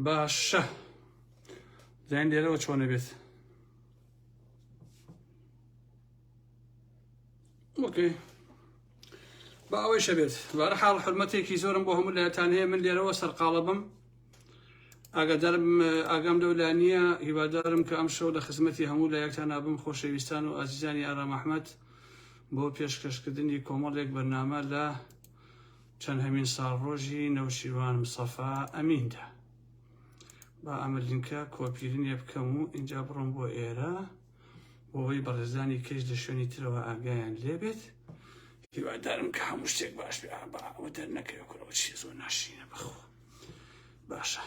باشە زیان لێرەوە چۆنە بێت ئۆکەی بە ئەوەی شەبێت بارە حاڵ حرمەتێکی زۆرم بۆ هەموو لایەتان هەیە من لێرەوە سەرقاڵە بم ئاگادارم ئاگام لەو لا نییە هیوادارم کە ئەم شەو لە خزمەتی هەموو لایەکتان نابم خۆشەویستان و ئازیزانی ئارام ئەحمد بۆ پێشکەشکردنی کۆمەڵێک بەرنامە لە چەندهەمین ساڵڕۆژی نەوشیروان مستەفا ئەمین دا. با ئەمە لینکە کۆپیی لێ بکەم و ئینجا بڕۆم بۆ ئێرە بۆوەی بەڕێزانی کەش لە شوێنی ترەوە ئاگایان لێ بێت. هیوادارم کە هەموو شتێک باش بێ ئابا ئەوە دەر نەکەوێ کورە ئەو چیە زۆر ناشرینە بەخۆ باشە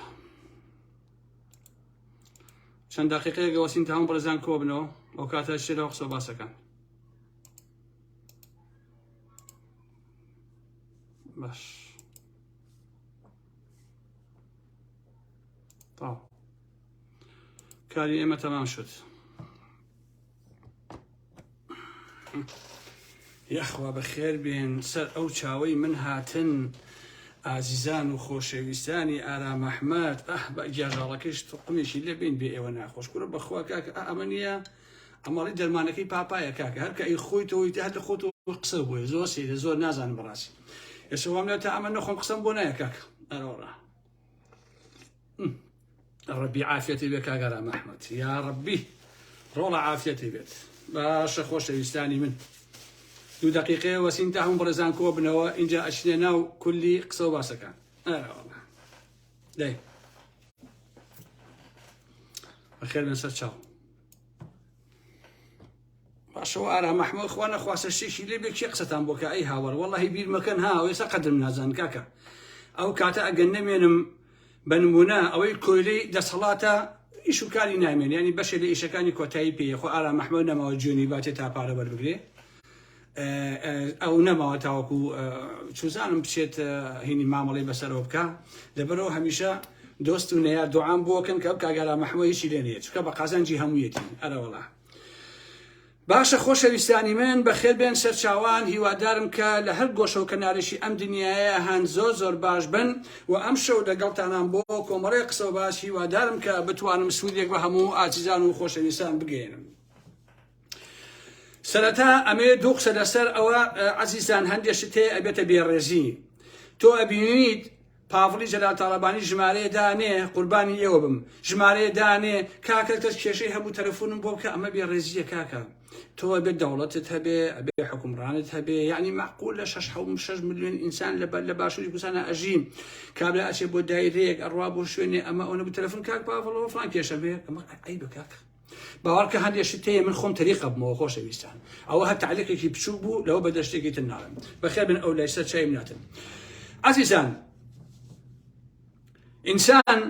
چەند دقیقەیەگە وەسین تاون بەڕێزان کۆبنەوە ئەو کاتە شێرەوە قسە باسەکان باش تاو کاری ئێمە تەمام شد یەخوا بەخێر بێن سەر ئەو چاوەی من هاتن ئازیزان و خۆشەویستانی ئارام ئەحمد ئەح بە گیاژاڵەکەش تقمێکی لەبین بێ ئێوە ناخۆش کورە بەخوا کاکە ئەمە نیە ئەمەڵی دەرمانەکەی پاپایە کاکە هەر کە ئەی خۆی تۆی تە هەتە خۆت قسە بۆیە زۆر سیرە زۆر نازانم بەڕاستی ئێسە وام لە تا ئەمە نەخۆم قسەم بۆ نایە کاک ئەرۆڕە ڕبی عافەتی بێ کاگەرا مەحمەد یا ڕبی ڕۆڵە عافەتی بێت باشە خۆشەویستانی من دوو دقیقەیە وەسین تا هەم بڕێزان کۆ بنەوە اینجا ئەچنە ناو کولی قسە و باسەکان دەی بەخێر من سەر چاو باشەوە ئارا مەحمۆ خوا نەخواسە شتێکی لێ بێ کێ قسەتان بۆکە ئەی هاوار وەڵی بیرمەکەن ها ئێستا قەدرم نازان کاکە ئەو کاتە ئەگەر نەمێنم بە نمونە ئەوەی کۆیلی دەسەڵاتە ئیش و کاری نامێن ینی بەشێ لە ئیشەکانی کۆتایی پێیە خۆ ئارا مەحمۆ نەماوە جوێنی باتێ تا پارە وەربگرێ ئەو نەماوە تاوەکو چوزانم بچێت هینی مامەڵی بەسەرەوە بکە لەبەرەوە هەمیشە دۆست و نەیار دوعام بۆکەن کە کاگەرا مەحموە هیچی لێ نیە چکە بە قازانجی هەموویەتی ئەرەوەڵا باشە خۆشەویستانی من بەخێر بێن سەرچاوان هیوادارم کە لە هەر گۆشە و کەنارێکی ئەم دنیاە هەند زۆر زۆر باش بن و ئەم شەو لەگەڵتانان بۆ کۆمەڵی قسە و باش هیوادارم کە بتوانم سوودێک بە هەموو ئازیزان و خۆشەویستان بگەێنم سەرەتا ئەمەیە دوو قسە لەسەر ئەوە عزیزان هەندێک شت هەیە ئەبێتە بێڕێزی تۆ ئەبینیت پاڤڵی جەلال تاڵەبانی ژمارەیە دانێ قوربانی ئێوە بم ژمارەیە دانێ کاکە کەس کێشەی هەموو تەلەفۆنم بۆ بکە ئەمە بێڕێزیە کاکە تۆ بێ دەوڵەتت هەبێ ئەبێ حکومڕانت هەبێ یعنی معقول لە 6 6 میلیۆن ئینسان لە بەر لە باشووری کوردستانە ئەژین کابرا ئەچێ بۆ دایرەیەک ئەڕوا بۆ شوێنێ ئەمە ئەوە بوو تەلەفۆن کاک پاڤڵەوە فلان کێشە بێ ئەمە عیبە کاکە باوەڕکە هەندێ شت هەیە من خۆم تەریق ئەبمەوە خۆشەویستان ئەوە هەر تعلیقێکی بچووک بوو لەوە بەدە شتێکی تر ناڵێم بەخێر بن ئەو لای سەر چایم ناتن عزیزان ئینسان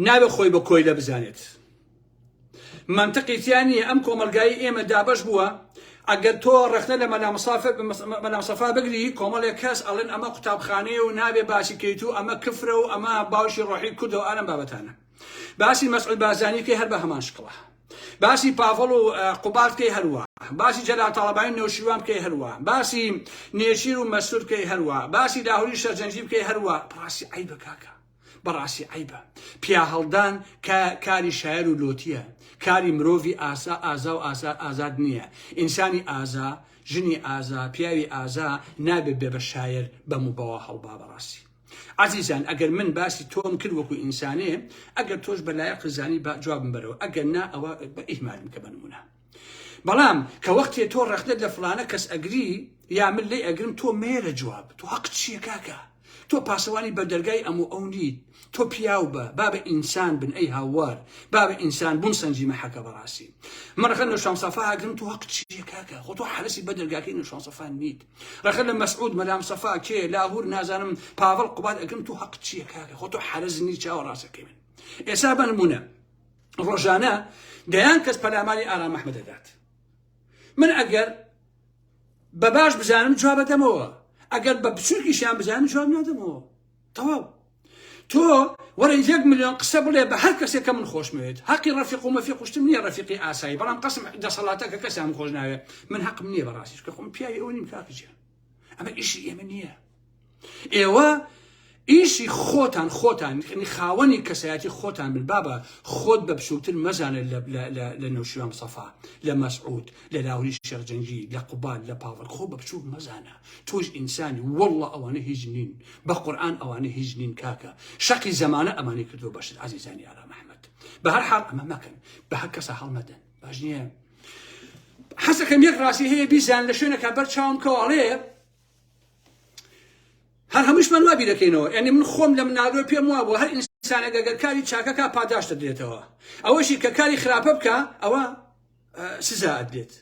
ناوێ خۆی بە کۆیلە بزانێت منطقیتیان نییە ئەم کۆمەلگای ئێمە دابش بووە ئەگەر تۆ ڕخنە لە مەلامسافە مەلامسەفا بگری کۆمەڵێک کەس ئەڵێن ئەمە قوتابخانەیە و نابێ باسی کەیت و ئەمە کفرە و ئەمە باوشی ڕۆحی کردەوە ئارم بابەتانە باسی مەسعود بارزانی بکەی هەر بە هەمان شکڵە باسی پاڤڵ و قوباد بکەی هەروە باسی جەلال تاڵەبانی نەوشیروان بکەی هەروە باسی نێچیر و مەسرور بکەی هەروە باسی لاهوری شەرجەنجی بکەی هەروە بڕاستی عیبە کاکە بەڕاستی عیبە پیا هەڵدان کە کاری شاعر و لۆتیە کاری مرۆڤی ئاسا ئازا و ئاسا ئازاد نییە ئینسانی ئازا ژنی ئازا پیاوی ئازا نابێت بێ بە شاعر بەم و بەوە هەڵبا بەڕاستی ئازیزان ئەگەر من باسی تۆم کرد وەکو ئینسانێ ئەگەر تۆش بە لایە قزانی با جوابم بەرەوە ئەگەر نا ئەوە بە ئیهمالم کە بنمونە بەڵام کە وەختێ تۆ ڕەخنت لە فلانە کەس ئەگری یا من لێ ئەگرم تۆ مێرە جواب تۆ حەق چیە کاکە تۆ پاسەوانی بەردەرگای ئەم و ئەو نیت تۆ پیاو بە بابە ئینسان بن ئەی هاوار بابە ئینسان بوون سەنجی مەحەکە بەڕاستی مەڕەخە نوشان سەفا ئەگرم تۆ حەق چیە کاکە خۆ تۆ حەرسی بەدەرگاکەی نوشان سەفا نیت رەخنە لە مەسعود مەلام سەفا کێ لاهور نازانم پاڤڵ قوباد ئەگرم تو هەق چییە کاکە خۆ تۆ حەرز نی چاوە ڕاستەکەی من ئێسا بە نمونە ڕۆژانە دەیان کەس پەلاماری ئارام ئەحمە دەدات من ئەگەر بە باش بزانم جواب دەمەوە ئەگەر بە بچووکیشیان بزانم جواب نادەمەوە تەواو تۆ وەرە یەک ملیۆن قسە بڵێ بە هەر کەسێک کە من خۆشمەوێت هەقی ڕەفیق و مەفی قوشتن نییە ڕەفیقی ئاسایی بەڵام قسم دەسەڵاتە کە کەسیان خۆش ناوێت من حەقم نییە بەڕاستیش کە خۆم پیاوی ئەو نیم کاکجیان ئەمە ئیشی ئێمە نییە ئێوە ئیشی خۆتان خۆتان خاوەنی کەسایەتی خۆتان بن بابە خۆت بە بچووکتر مەزانە لە نەوشیوان سەفا لە مەسعود لە لاوری شەرجەنگی لە قوبال لە پاوەڵ خۆ بە بچووک مەزانە تۆش ئینسانی وەڵڵە ئەوانە هیچ نین بە قورئان ئەوانە هیچ نین کاکە شەقی زەمانە ئەمانی کردو بەشت عزیزانی ئارام ئەحمد بە هەر حاڵ ئەمە مەکەن بە هەر کەسە هەڵمەدەن باش نییە حەسەکەم یەک ڕاستی هەیە بیزان لە شوێنەکە بەر چاوم کەواڵێ هەر هەمووش من وابی دەکەینەوە یعنی من خۆم لە منالۆ پێم وا بۆ هەر ئینسانە گەگەر کاری چاکەکە پاداش دەدرێتەوە ئەوەشی کە کاری خراپە بکە ئەوە سزا ئەدرێت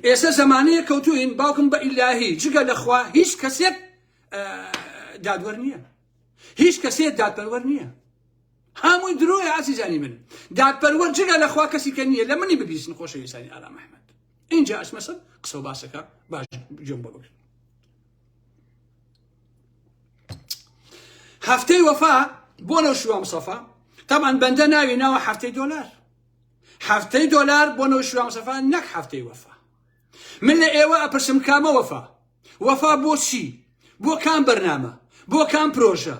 ئێستا زمانەیە کەوتوین باوکم بە ئیلاهی جگە لەخوا هیچ کەسێک دادوەر نییە هیچ کەسێ دادپەروەر نییە هەمووی درۆی ئازیزانی من دادپەروەر جگە لەخوا کەسی کە نییە لە منی ببیستن خۆشەویستانی ئارام ئەحمد اینجا ئەسمەسە قسە و باسەکە باش جۆم بۆ بگرن هەفتەی وەفا بۆ نەو شووە مسەفا تامان بەندە ناوی ناوە هەفتەی دۆلار هەفتەی دۆلار بۆ نەو شووە مسەفا نەک هەفتەی وەفا من لە ئێوە ئەپرسم کامە وەفا؟ وەفا بۆ چی؟ بۆ کام بەرنامە؟ بۆ کام پرۆژە؟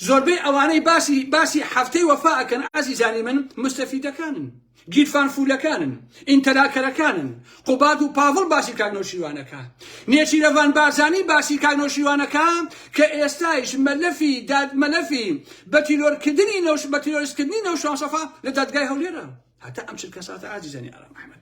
زۆربەی ئەوانەی باسی باسی هەفتەی وەفا ئەکەن ئازیزانی من مستەفیدەکانن گیرفان فولەکانن ئینتەلاکەرەکانن قوباد و پاڤڵ باسی کاک نەوشیروانەکە نێچیرەڤان بارزانی باسی کاک نەوشیروانەکە کە ئێستایش مەلەفی داد مەلەفی بە تیرۆرکردنی نەوش بە تیرۆرستکردنی نەوشانسەفا لە دادگای هەولێرە هەتا ئەم چرکە ساتە ئازیزانی ئارام ئەحمەد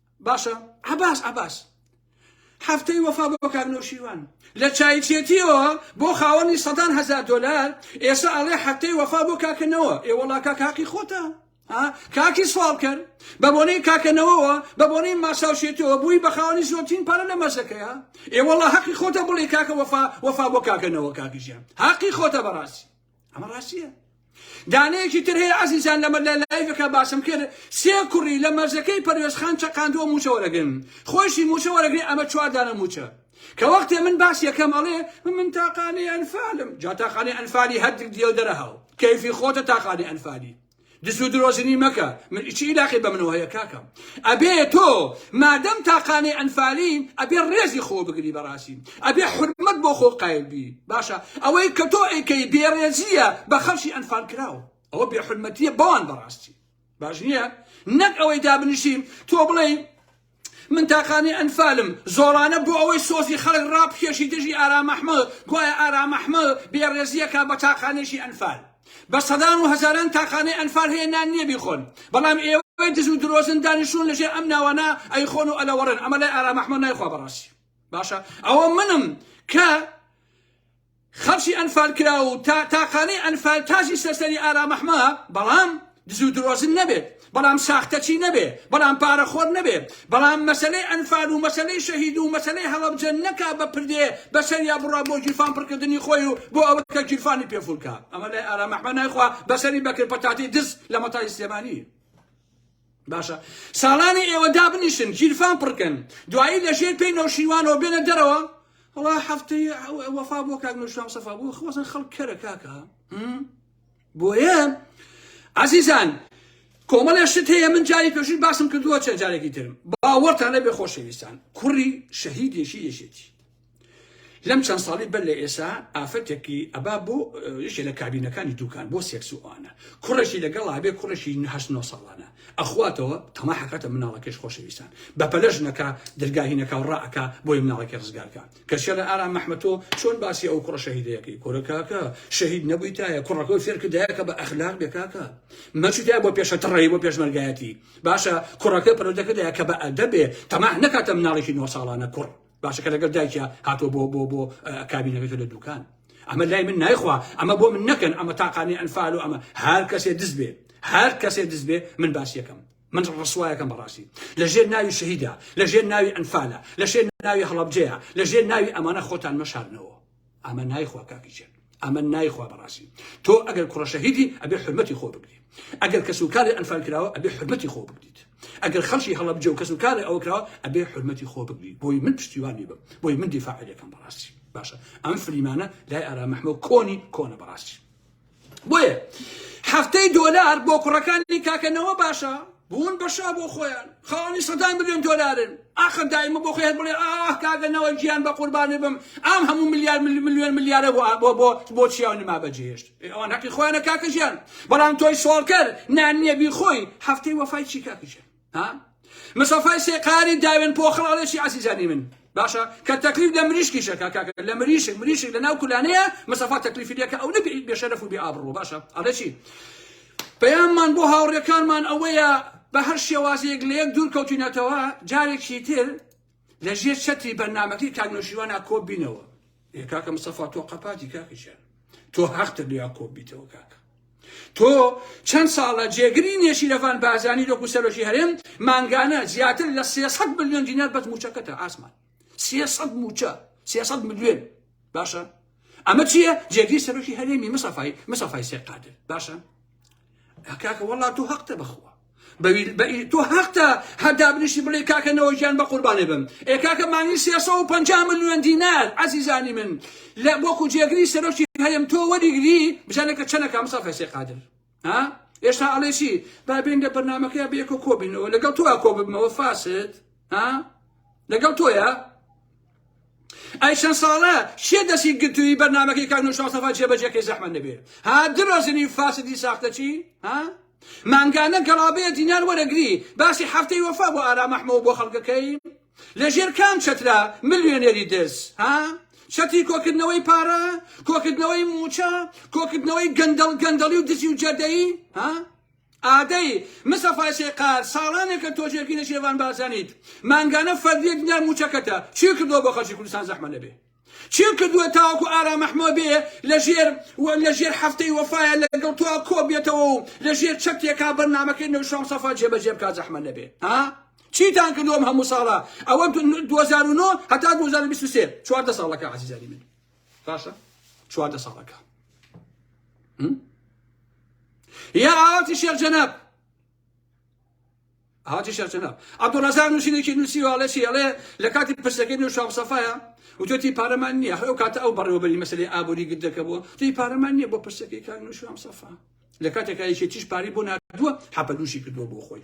باشە عباس عباس هەفتەی وەفا بۆ کاک نەوشیروان لە چایچێتیەوە بۆ خاوەنی سەدان هزار دلار ئێستا ئەڵێ هەفتەی وەفا بۆ کاکەنەوە ئێوەڵا کاکاقی خۆتە کاکی سوال کرد بە بۆنەی کاکەنەوەەوە بە بۆنەی ماساوشێتەوە بووی بە خاوەنی زۆرترین پارە لە مەزەکەیە ئێوەڵا هەقی خۆتە بڵێ کاکە وەفا وەفا بۆ کاکەنەوە کاکیژیان هاقی خۆتە بەڕاستی ئەمە ڕاستیە دانەیەکی تر هەیە عزیزان لەمە لە لایڤەکە باسم کرد سێ کوڕی لە مەرزەکەی پەروێزخان چەقاندووە موچە وەرەگن خۆشی موچە وەرەگری ئەمە چواردانە موچە کە وەختێ من باس یەکەم ئەڵێ من تاقانەی ئەنفالم جا تاقانەی ئەنفالی هەردک دیێو دەرەهاو کەیفی خۆتە تاقانەی ئەنفالی دز و درۆزنی مەکە من ئیچی ئیلاقەی بە منەوە هەیە کاکەم ئەبێ تۆ مادەم تاقانەی ئەنفالی ئەبێ ڕێزی خۆ بگری بەڕاستی ئەبێ حرمەت بۆ خۆ قایل بی باشە ئەوەی کە تۆ ئەیکەی بێڕێزیە بە خەڵکی ئەنفال کراو ئەوە بێ حرمەتیە بەوان بەڕاستی باش نییە نەک ئەوەی دابنیشیم تۆ بڵێ من تاقانەی ئەنفالم زۆڵانە بۆ ئەوەی سۆزی خەڵک ڕابکێشی دژی ئارام ئەحمەد گوایە ئارام ئەحمەد بێڕێزی ئەکا بە تاقانەیەکی ئەنفال بە سەدان و هەزاران تاقانەی ئەنفال هەیە نان نییە بیخۆن بەڵام ئێوەی دز و درۆزن دانیشتون لەژێر ئەم ناوانە ئەیخۆن و ئەلەوەڕێن ئەمە لای ئارام ئەحمەد نایخوا بەڕاستی باشە ئەوە منم کە خەڵکی ئەنفال کراو و تا تاقانەی ئەنفال تاجی سەر سەری ئارام ئەحمە بەڵام دزو درۆزن نەبێت بەڵام ساختەچی نەبێ بەڵام پارە خۆر نەبێ بەڵام مەسەلەی ئەنفال و مەسەلەی شەهید و مەسەلەی هەڵەبجە نەکا بە پردێ بە سەریا بڕا بۆ گیرفان پڕ کردنی خۆی و بۆ ئەوە کە گیرفانی پێ فول کا ئەمە لای ئارام ئەحمە نایخوا بە سەری بەکر پەتاتەی دز لە مەتای سلێمانی باشە ساڵانی ئێوە دابنیشن گیرفان پڕکەن دوایی لە ژێر پێی نەوشیوانەوە بێنە دەرەوە هەڵا هەفتەی وەفا بۆ کاک نوشام سەفا بۆ خۆزن خەڵک کەرە کاکە بۆیە عزیزان کۆمەڵێ شت هەیە من جاری پێشوی باسم کردووە چەند جارێکی ترم باوەڕتان لە بێ خۆشەویستان کوڕی شەهیدێکی یەشێتی لەم چەند ساڵی بەر لە ئێسا ئافرەتێکی ئەبا بۆ یەکێ لە کابینەکانی دوکان بۆ سێکس و ئەوانە کوڕێکی لەگەڵ ئابێ کوڕێکی هەشت نۆ ساڵانە ئەخواتەوە تەما حەکەتە مناڵەکەش خۆشەویستان بەپەلە ژنەکە درگاهینەکە و ڕائەکا بۆی مناڵەکە ڕزگارکە کەسیە لە ئارام مەحمەتۆ چۆن باسی ئەو کوڕە شەهیدەیەکەی کۆرەکەکە شەهید نەبوویتایە کوڕەکە و فێرکردایەکە بە ئەخلاق بێکاکە مەچدا بۆ پێشە تڕی بۆ پێشمەرگایەتی باشە کوڕەکە پەرۆدەکەدایە کە بە ئەدەبێ تەما نەکاتە مناڵێکی نۆ ساڵانە کوڕ باشە کە لەگەل دایکیا هاتوە بۆ بۆ بۆ کابینەکەی تۆ لە دوکان ئەمە لای من نایخوا ئەمە بۆ من نەکەن ئەمە تاقانی ئەنفال و ئەمە هەر کەسێ دز بێ هەر کەسێ دز بێ من باسیەکەم من ڕسوایەکەم بەڕاستی لە ژێر ناوی شەهیدا لە ژێر ناوی ئەنفالە لە شێر ناوی هەڵبجەیە لە ژێر ناوی ئەمانە خۆتان مەشارنەوە ئەمە نایخوا کاکی چێن ئەمە نایخوا بەڕاستی تۆ ئەگەر کوڕە شەهیدی ئەبێ حرمەتی خۆ بگری ئەگەر کەس و کاری ئەنفال کراوە ئەبێ حرمەتی خۆ بگریت ئەگەر خەڵکی هەڵەبجە و کەس و کاری ئەوە کراوە ئەبێ حرمەتی خۆ بگری بۆی من پشتیوانی بم بۆی من دیفاعەکەم بەڕاستی باشە ئەم فلیمانە لای ئارا مەحمە کۆنی کۆنە بەڕاستی بۆیە هەفتەی دۆلار بۆ کوڕەکانی کاکە نەوە باشە بوون بەشا بۆ خۆیان خاوەنی سەدان ملیۆن دۆلارن ئاخر دایمە بۆ خۆی هەر بڵێ ئاه کاگەنەوە گیان بە قوربانێ بم ئام هەموو ملیار ملیۆن ملیارە بۆ بۆ بۆ بۆ چیاو نما بەجێهێشت ئەوان هەقی خۆیانە کاکە ژیان بەڵام تۆی سۆڵکەر نانیە بی خۆی هەفتەی وەفای چی کاکە ژیان ها مسەفای سێ قاری داوێن پۆخڵ ئەڵێ چی عزیزانی من باشە کە تەکلیف لە مریشکیشە کاکاکە لە مریشک مریشک لە ناو کولانەیە مسەفا تەکلیفی لەکە ئەو نەبی بێشەرەف و بێ ئابڕوە باشە ئەڵێ چی پەیاممان بۆ هاوڕێکانمان ئەوەیە بە هەر شێوازێک لە یەک دوور کەوتینەتەوە جارێکی تر لە ژێر چەتری بەرنمەکەی کاک نۆشیوانە کۆ بینەوە کاکە مستەفا تۆ قەپاتی کاکەشیان تۆ هەختر لیا کۆ بیتەوە کاکە تۆ چەند ساڵە جێگری نێشی لەفان بازانی لۆک و سەرۆکی هەرێم مانگانە زیاتر لە 300 میلیۆن دینار بەس موچەکەتە ئاسمان 300 موچە 300 میلیۆن باشە ئەمە چییە جێگری سەرۆکی هەرێمی مسەفای مسەفای سێقادر باشە کاکە وەڵا تۆ هەقتە بەخوا تۆ هەقتە هەر دابنیشی بڵێ کاکە نەوەژیان بە قوربانێ بم ئێ کاکە مانگی 350 ملیۆن دینار عزیزانی من لە وەکو جێگری سەرۆکی هەرێم تۆ وەریگری بزانە کە چەنەکە مسافە سێ قادر ها ئێستا ئەڵێسی با بێن لە بەرنمەکەی بێکۆ کۆبینەوە لەگەڵ تۆ کۆ ببمەوە فاسد ها لەگەڵ تۆیە ئەی چەند ساڵە کێ دەستی گرتووی بەرنامەکەی کاک نوشاڵ سەفا جێبەجێکەی زەحمەت نەبێ ها درۆزنی فاسدی ساختەچی ها مانگانە گەڵابەیە دینار وەرەگری باسی هەفتەی وەفا بۆ ئارام ئەحمەوە بۆ خەڵکەکەی لەژێر کام چەترا ملیۆنێری دز ها چەتی کۆکردنەوەی پارە کۆکردنەوەی موچە کۆکردنەوەی گەندەڵ گەندەڵی و دزی و جەدەی ها ئادەی، مستەفای سێقار، ساڵانێکە تۆ جێگری نەشیرەڤان بارزانیت، مانگانە فەردییەک دینار مووچەکەتە، چی کردووە بۆ خەڵکی کوردستان زەحمەت نەبێ؟ چی کردووە تاوەکو ئارام مەحمۆ بێ لەژێر لەژێر حەفتەی وەفایە لەگەڵ تۆ کۆ بێتەوە و لەژێر چەترێکا بەرنامەکەی نەوشیروان مستەفا جێبەجێ بکا زەحمەت نەبێ؟ ها؟ چیتان کردووە ئەم هەموو ساڵە؟ ئەوە دوو هەزار و نۆ هەتا دوو هەزار و بیست و سێ چواردە ساڵەکە عەزیزانی من باشە چواردە ساڵەکە یا ئاواتی شێخ جەناب هاتی شێخ جەناب عەبدوڵرەزاق نووسینێکی نووسیوە ئەڵێ چی ئەڵێ لە کاتی پرسەکەی نوێ شام سەفایە وتۆتی پارەمان نییە ئەو کاتە ئەو بەڕێوەبەری مەسلەی ئابووری گردەکە بووە تی پارەمان نییە بۆ پرسەکەی کاک نووشام سەفا لە کاتێکایکی تیش پاری بۆ نردووە حەپەدوشی کردووە بۆ خۆی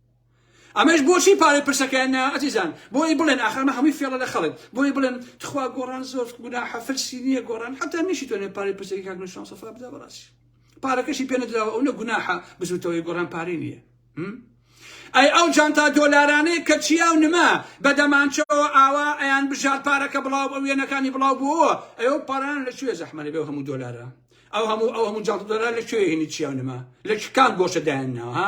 ئەمەش بۆچی پارەی پرسەکەیان نا ئەزیزان بۆی بڵێن ئاخر ئەمە هەمووی فێڵە لە خەڵک بۆی بڵێن تخوا گۆڕان زۆر گوناحە فرسی نییە گۆڕان حتا نشی تۆنێ پارەی پرسەکەی کاک نوشان سەفا بدا بەڕاستی پارەکەشی پێ نەدراوە ئەو نە گوناحە بزوتەوەی گۆڕان پارەی نییە ئەی ئەو جانتا دۆلارانەی کە چیا و نما بە دەمانچەوە ئاوا ئەیان بژار پارەکە بڵاو بە وێنەکانی بڵاو بووەوە ئەو پاران لە کوێ زەحمەەبێ و هەموو دۆلارە ئەو هەموو ئەو هەموو جانتا دۆلار لە کوێ هێنی چیا و نما لە کام گۆشە دایان ناوە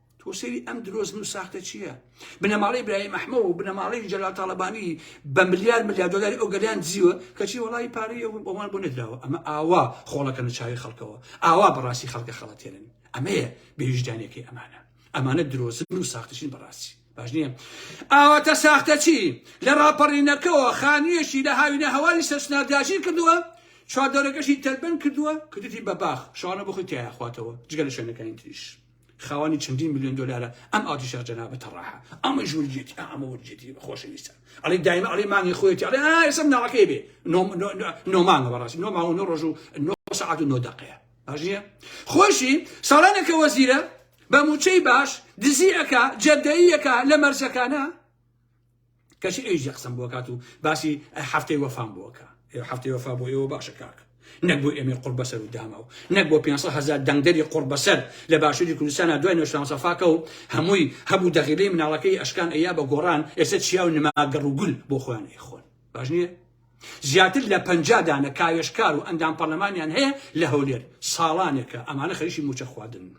تۆ سەیری ئەم درۆزن و ساختە چییە بنەماڵەی براهیم ئەحمە و بنەماڵەی جەلال تاڵەبانی بە ملیار ملیار دۆلاری ئەو گەلیان دزیوە کەچی وەڵی پارەی ئەو بۆمان بۆ نەدراوە ئەمە ئاوا خۆڵەکەنە چاوی خەڵکەوە ئاوا بەڕاستی خەڵکە خەڵەتێنن ئەمەیە بێویژدانەکەی ئەمانە ئەمانە درۆزن و ساختەچین بەڕاستی باش نییە ئاواتە ساختەچی لە ڕاپەڕینەکەەوە خانوویەکی لە هاوینە هەواری سەرسنار داگیر کردووە چواردەورەکەشی تەلبەن کردووە کردی بە باخ شانە بخی تیاخواتەوە جگە لە شوێنەکانی تریش خاوەنی چەندین ملیۆن دۆلارە ئەم ئاتیشا جەنابە تەڕاحە ئەمە ژوورجێتی ئەمە وەرجێتی خۆشەویستە ئەڵێ دایمە ئەڵێ مانگی خۆێتی ئەڵێ ئاسم ناڵەکەی بێ نۆمانگە بەڕاستی نۆ ماوە نۆ ڕۆژ و نۆ سعات و نۆ دەقەیە باشە خۆشی ساڵانێکە وەزیرە بە موچەی باش دزیەکە جەدەیەکە لە مەرزەکانە کەچی ئەویش یەک قسەم بۆ کات و باسی هەفتەی وەفام بۆکە ئێ هەفتەی وەفا بۆ ئێوە باشە کاک نەک بۆ ئێمەی قڕ بەسەر و داما و نەک بۆ 500 هزار دەنگدەری قڕ بەسەر لە باشووری کوردستانە دوای نۆشتان سەفاکە و هەمووی هەبوو دەغیلەی مناڵەکەی ئەشکان ئەیا بە گۆڕان ئێستا چیا و نماگەڕ و گول بۆ خۆیان ئەیخۆن باش نییە زیاتر لە پەنجا دانە کاوێژکار و ئەندام پەرلەمانیان هەیە لە هەولێر، ساڵانێکە ئەمانە خەریکی مووچە خواردنن،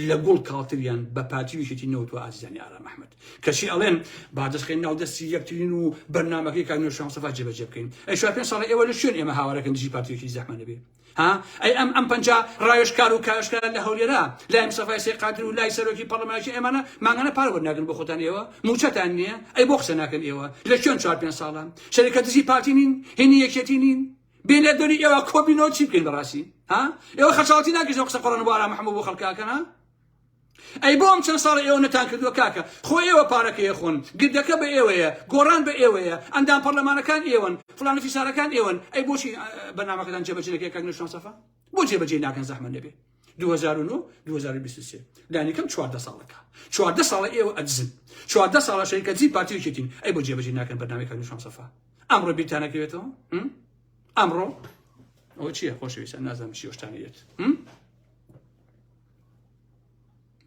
لە گوڵ کاڵتریان بە پارتی و یەکێتی نەوت و ئازیزانی ئارام ئەحمەد، کەچی ئەڵێن با دەست خەین ناو دەستی یەکترین و بەرنامەکەی کاک نوێنەر شا مستەفا جێبەجێ بکەین، ئەی چوار پێنج ساڵە ئێوە لە کوێن ئێمە هاوارەکەن دژی پارتی و یەکێتی زەحمەت نەبێ؟ ها ئەی ئەم ئەم پەنجا ڕاوێژکار و کارشکار لە هەولێرا لای مستەفای سێ قادر و لای سەرۆکی پەرلەمانێکی ئێمانە مانگانە پارە وەرناگرن بۆ خۆتان ئێوە موچەتان نییە ئەی بۆ قسە ناکەن ئێوە لە چۆن چوار پێنج ساڵە شەریکە دزی پارتی نین هینی یەکێتی نین بێ لە دۆری ئێوە کۆبینەوە چی بکەین بەڕاستی ها ئێوە خەچاڵتی ناکەیت قسە قڕن بۆ ئارام محەممەد بۆ خەڵکاکەن ها ئەی بۆ ئەم چەند ساڵە ئێوە نەتان کردووە کاکە خۆ ئێوە پارەکەی ئەخۆن گردەکە بە ئێوەیە گۆڕان بە ئێوەیە ئەندام پەڕلەمانەکان ئێوەن فڵان و فیسارەکان ئێوەن ئەی بۆچی بەرنامەکەتان جێبەجێ نەکرێ کاک نوێژان سەفا بۆ جێبەجێی ناکەن زەحمەت نەبێ 2009 2023 لانیکەم 14 ساڵەکە 14 ساڵە ئێوە ئەدزن 14 ساڵە شەریکەتزی پارتی و یەکێتین ئەی بۆ جێبەجێ ناکەن بەرنامەی کاک نوێژان سەفا ئەمڕۆ بیرتانەکەوێتەوە ئەمڕۆ ئەوە چییە خۆشەویستان نازانم چی شتانە یەت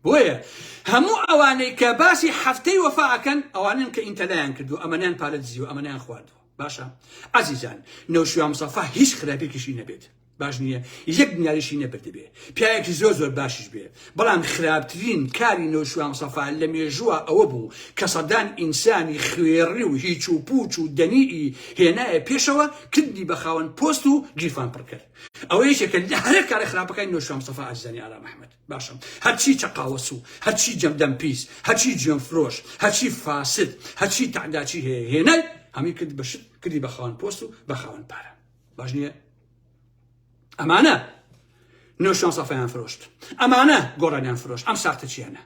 بۆیە هەموو ئەوانەی کە باسی هەفتەی وەفا ئەکەن ئەوانن کە ئینتەلایان کردو ئەمەنیان پارە دزیوە ئەمەنیان خواردوە باشە ئازیزان نەوشیان مسەفا هیچ خراپێکیشی نەبێت باش نییە یەک نیاریشی نەبردبێ پیاەکی زۆر زۆر باشش بێ بەڵام خراپترین کاری نەوشیان مسەفا لە مێژووە ئەوە بوو کە سەدان ئینسانی خوێڕی و هیچ و پوچ و دەنیئی هێنایە پێشەوە کردی بە خاوەن پۆست و گیرفان پڕکرد ئەوە یەکێکە لە هەرە کارە خراپەکانی نۆشوا مستەفا ئاجزانی ئارام ئەحمەد باشم هەرچی چەقاوەسو هەرچی جەمدەم پیس هەرچی جوێن فرۆش هەرچی فاسد هەرچی تەعداچی هەیە هێنای هەمی کرد بەشت کردی بە خاوەن پۆست و بە خاوەن پارە باش نییە ئەمانە نۆشان سەفیان فرۆشت ئەمانە گۆڕانیان فرۆشت ئەم ساختە چیانە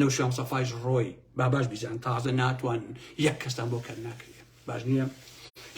نەوشیروان سەفایش ڕۆی باباش بیزان تازە ناتوان یەک کەستان بۆ کەر ناکرێ باش نییە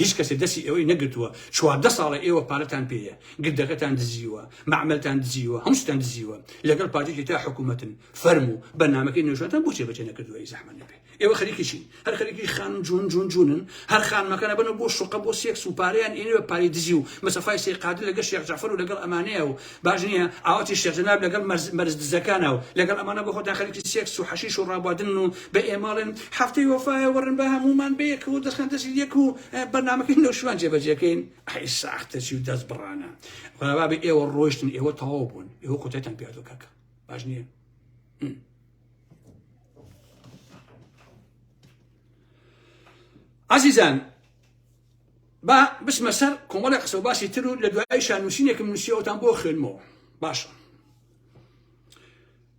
هیچ کەسێ دەسی ئێوەی نەگرتووە چواردە ساڵە ئێوە پارەتان پێیە گردەکەتان دزیوە معملتان دزیوە هەمستان دزیوە لەگەڵ پارتێکی تا حکوومەتن فەرم و بەنامەکەی نوێژاتان بچێ بچێ نەکردووە زەحمە نەبێت ئێوە خەریکی چین هەر خەریکی خانم جون جون جونن هەر خانمەکە نەبنە بۆ شوقە بۆ سێکس و پارەیان ئێنێ بە پارەی دزی و مەسەفای سەی قادر لەگەڵ شێخ جعفر و لەگەڵ ئەمانەیە و باش نییە ئاواتی شێخ جەناب لەگەڵ مەرز مەرز دزەکانە و لەگەڵ ئەمانە بۆ خۆتان خەریکی سێکس و حەشیش و ڕابواردنن و بە ئێماڵێن هەفتەی وەفایە وەڕن با هەموومان بەیەکەوە و دەستخان دەستی یەک و بەرنامەکەی نەوشیروان جێبەجێکەین ئەی ساختەچی و دەست بڕانە بابێ ئێوە ڕۆیشتن ئێوە تەواو بوون ئێوە کۆتایتان پێدۆ کاکە باش نییە ئازیزان با بچمە سەر کۆمەڵی قسە و باسی تر و لە دوای شانووسینێکم نووسیەوەتان بۆ خوێنمەوە باشە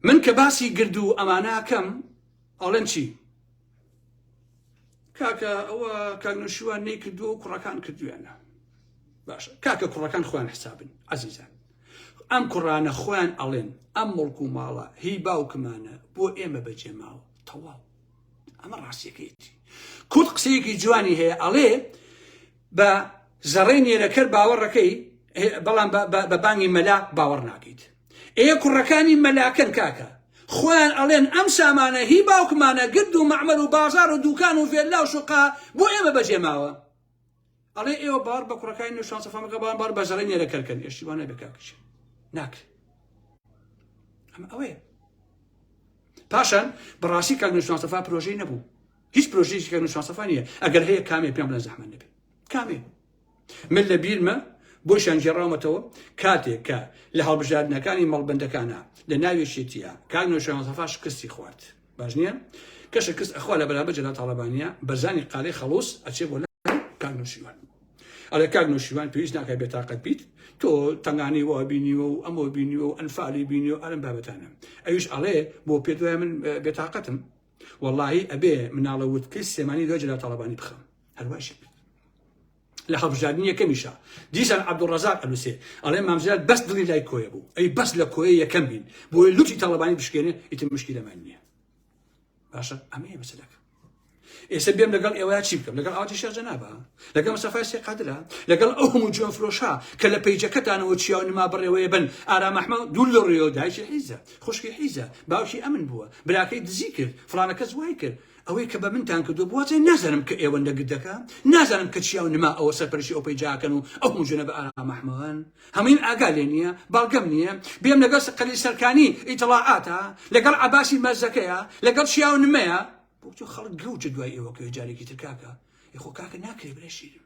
من کە باسی گرد و ئەماناکەم ئەڵەن چی کاکە ئەوە کاک نەوشیروان نەی کردووە و کوڕەکان کردویانە باشە کاکە کوڕەکان خۆیان حسابن عزیزان ئەم کوڕانە خۆیان ئەڵێن ئەم مڵک و ماڵە هی باوکمانە بۆ ئێمە بەجێ ماوە تەواو ئەمە ڕاستیەکەیتی کورد قسەیەکی جوانی هەیە ئەڵێ بە زەڕێ نێرەکەر باوەڕەکەی بەڵام بە بانگی مەلا باوەڕ ناکەیت ئێ کوڕەکانی مەلاکەن کاکە خۆیان ئەڵێن ئەم سامانە هی باوکمانە گرد و مەعمەر و بازار و دوکان و ڤێللا و شوقا بۆ ئێمە بەجێ ماوە ئەڵێ ئێوە باوەڕ بە کوڕەکانی نو شانسە فامەکە بەڵام باوەڕ بە زەڕەی نێرە کەرکەن ئێشتی وانە بێ کاکچێ ناکرێت ئەمە ئەوەیە پاشان بەڕاستی کاک نو شانسەفا پرۆژەی نەبوو هیچ پرۆژێکی کاک نو شانسەفا نییە ئەگەر هەیە کامێ پێم بڵێن زەحمەت نەبێت کامێ من لە بیرمە بۆشیان گێڕاومەتەوە کاتێک کە لە هەڵبژاردنەکانی مەڵبندەکانە لە ناوی شێتیە کاک نۆشان سەفا شکستی خوارد باش نییە کە شکست ئەخوا لە بەرامبەر جەلا تاڵەبانە بەرزانی قالەی خەڵوس ئەچێ بۆ کاک نوشیوان ئەڵێ کاک نوشیوان پێویست ناکە بێتاقەت بیت تۆ تەنگانی وا بینیوە و ئەمە بینیوە و ئەنفالی بینی و ئەرم بابەتانە ئەویش ئەڵێ بۆ پێ دوای من بێتاقەتم وەڵاهی ئەبێ مناڵە ووتکەی سلێمانی لۆ جەلال تاڵەبانی بخەم هەروایشی کرد لە هەڵبژاردنی یەکەمیشا دیسان عەبدوڵڕەزاق ئەنووسێ ئەڵێ مام جەلال بەس دڵی لای کۆیە بوو ئەی بەس لە کۆیە یەکەم بین بۆیە لوتی تاڵەبانی بشکێنێ ئیتر مشکیلەمان نییە باشە ئەمەیە مەسەلەکە ئێستا بێم لەگەڵ ئێوە چی بکەم لەگەڵ ئاتی شەرجەنابە لەگەڵ مەسەفای سێ قادرە لەگەڵ ئەو هەموو جوێن فرۆشا کە لە پەیجەکەتانەوە چیا و نما بڕێوەیە بن ئارامەحمە دوو لە ڕێەوە دایکی حیزە خوشکی حیزە باوکی ئەمن بووە براکەی دزی کرد فلانە کەس وای کرد ئەوەی کە بە منتان کردو بوازێ نازانم کە ئێوە لە گردەکە نازانم کە چیاو نما ئەوە سەرپەرشی ئەو پەیجاکەن و ئەو مژنە بە ئارامەحمەوەن هەمین ئاگا لێ نییە بەڵگەم نییە بێم لەگەڵ سقلی سەرکانی ئیتڵاعاتە لەگەڵ عباسی مەرزەکەیە لەگەڵ چیاو نمەیە بۆچۆ خەڵک گەوجە دوای ئێوە کە جارێکی ترکاکە یخۆ کاکە ناکرێ برێشیرم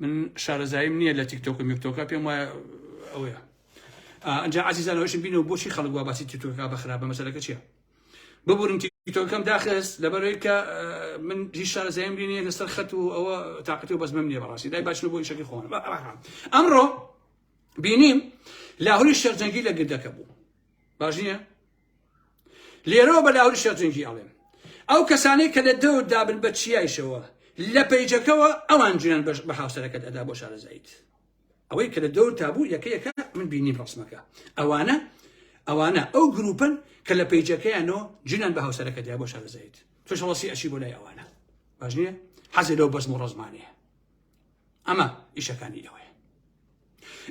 من شارەزاییم نییە لە تیکتۆک و میکتۆکە پێم وایە ئەوەیە ئەجا عزیزانەوەشم بینەوە بۆچی خەڵک وا باسی تیتۆکا بە خراپە مەسەلەکە چیە ببورن تیتۆکەم داخست لەبەرەوەی کە من هیچ شارەزاییم بینێ لەسەر خەت و ئەوە تااقەتی و بەزمم نیە بەڕاستی دای باشن بۆ شەکی خۆن ئەمڕۆ بینیم لاهوری شەرجەنگی لە گردەکە بوو باش نییە لێرەوە بە لاهوری شەرجنگی ئەڵێم ئەو کەسانەی کە لە دەور دابن بە چیایشەوە لە پەیجەکەەوە ئەوان جوێن بەش بە هاوسەرەکەت ئەدا بۆ شارەزایت ئەوەی کە لە دەور تابوو یەکەیەکە من بینی ڕسمەکە ئەوانە ئەوانە ئەو گروپن کە لە پەیجەکەیانەوە جوێن بە هاوسەرەکەدا بۆ شارەزایت تۆشەڵسی ئەشی بۆ لای ئەوانە باش نیە حەزی لەو بەزم و ڕزمانەیە ئەمە ئیشەکانی ئێوەیە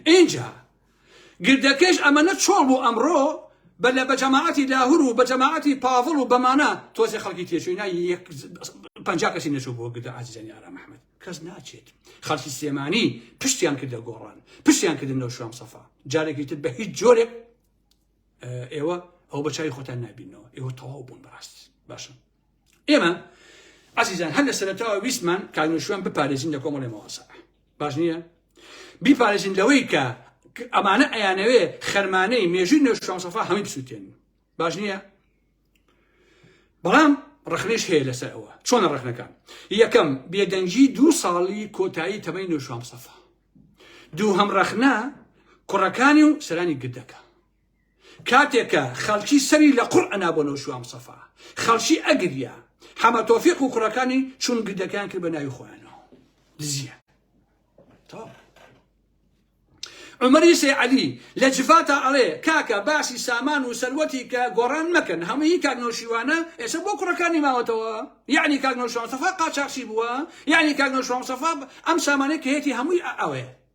ئینجا گردەکەش ئەمەە چۆڵ بوو ئەمڕۆ بە لە بە جەماعەتی لاهور و بە جەماعەتی پاڤڵ و بەمانە تۆزی خەڵکی تێچووی نای پ کەسی نەچوو بۆ گردە ئازیزانی ئارام محمد کەس ناچێت خەڵکی سێمانی پشتیان کردە گۆڕان پشتیان کردن لەو شوام سەفا جارێکی تر بە هیچ جۆرێک ئێوە ئەو بەچوی خۆتان نبینەوە ئێوە تەواو بوون بەڕاست باشن ئێمە ئازیزان هەر لە سەرەتاوە ویستمان کاک نوشوان بپارێزین لە کۆمەڵی مەواسا باش نییە بیپارێزین لەوەی کە ئەمانە ئەیانەوێ خەرمانەی مێژوی نوێشانسەفا هەمی بسووتێن باش نییە بەڵام ڕخنش هەیە لەسەر ئەوە چۆنە ڕخنەکان یەکەم بێدەنگی دوو ساڵی کۆتایی تەمەی نوێشام سەفا دوو هەم ڕخنا کوڕەکانی و سەرانی گردەکە کاتێ کە خەڵکی سەری لە قوڕ ئەنا بۆ نەوشیروان مستەفا خەڵکی ئەگریا حەمە تۆفیق و کوڕەکانی چون گردەکەیان کرد بە ناوی خۆیانەوە دزیە تەواو عمری سی علی لە جفاتا ئەڵێ کاکە باسی سامان و سەروەتی کە گۆڕان مەکەن هەمووی کاک نەوشیوانە ئێستا بۆ کوڕەکانی ماوەتەوە یعنی کاک نەوشیوان سەفا قاچاخچی بووە یعنی کاک نەوشیوان سەفا ئەم سامانەی کە هەیەتی هەمووی ئەوێ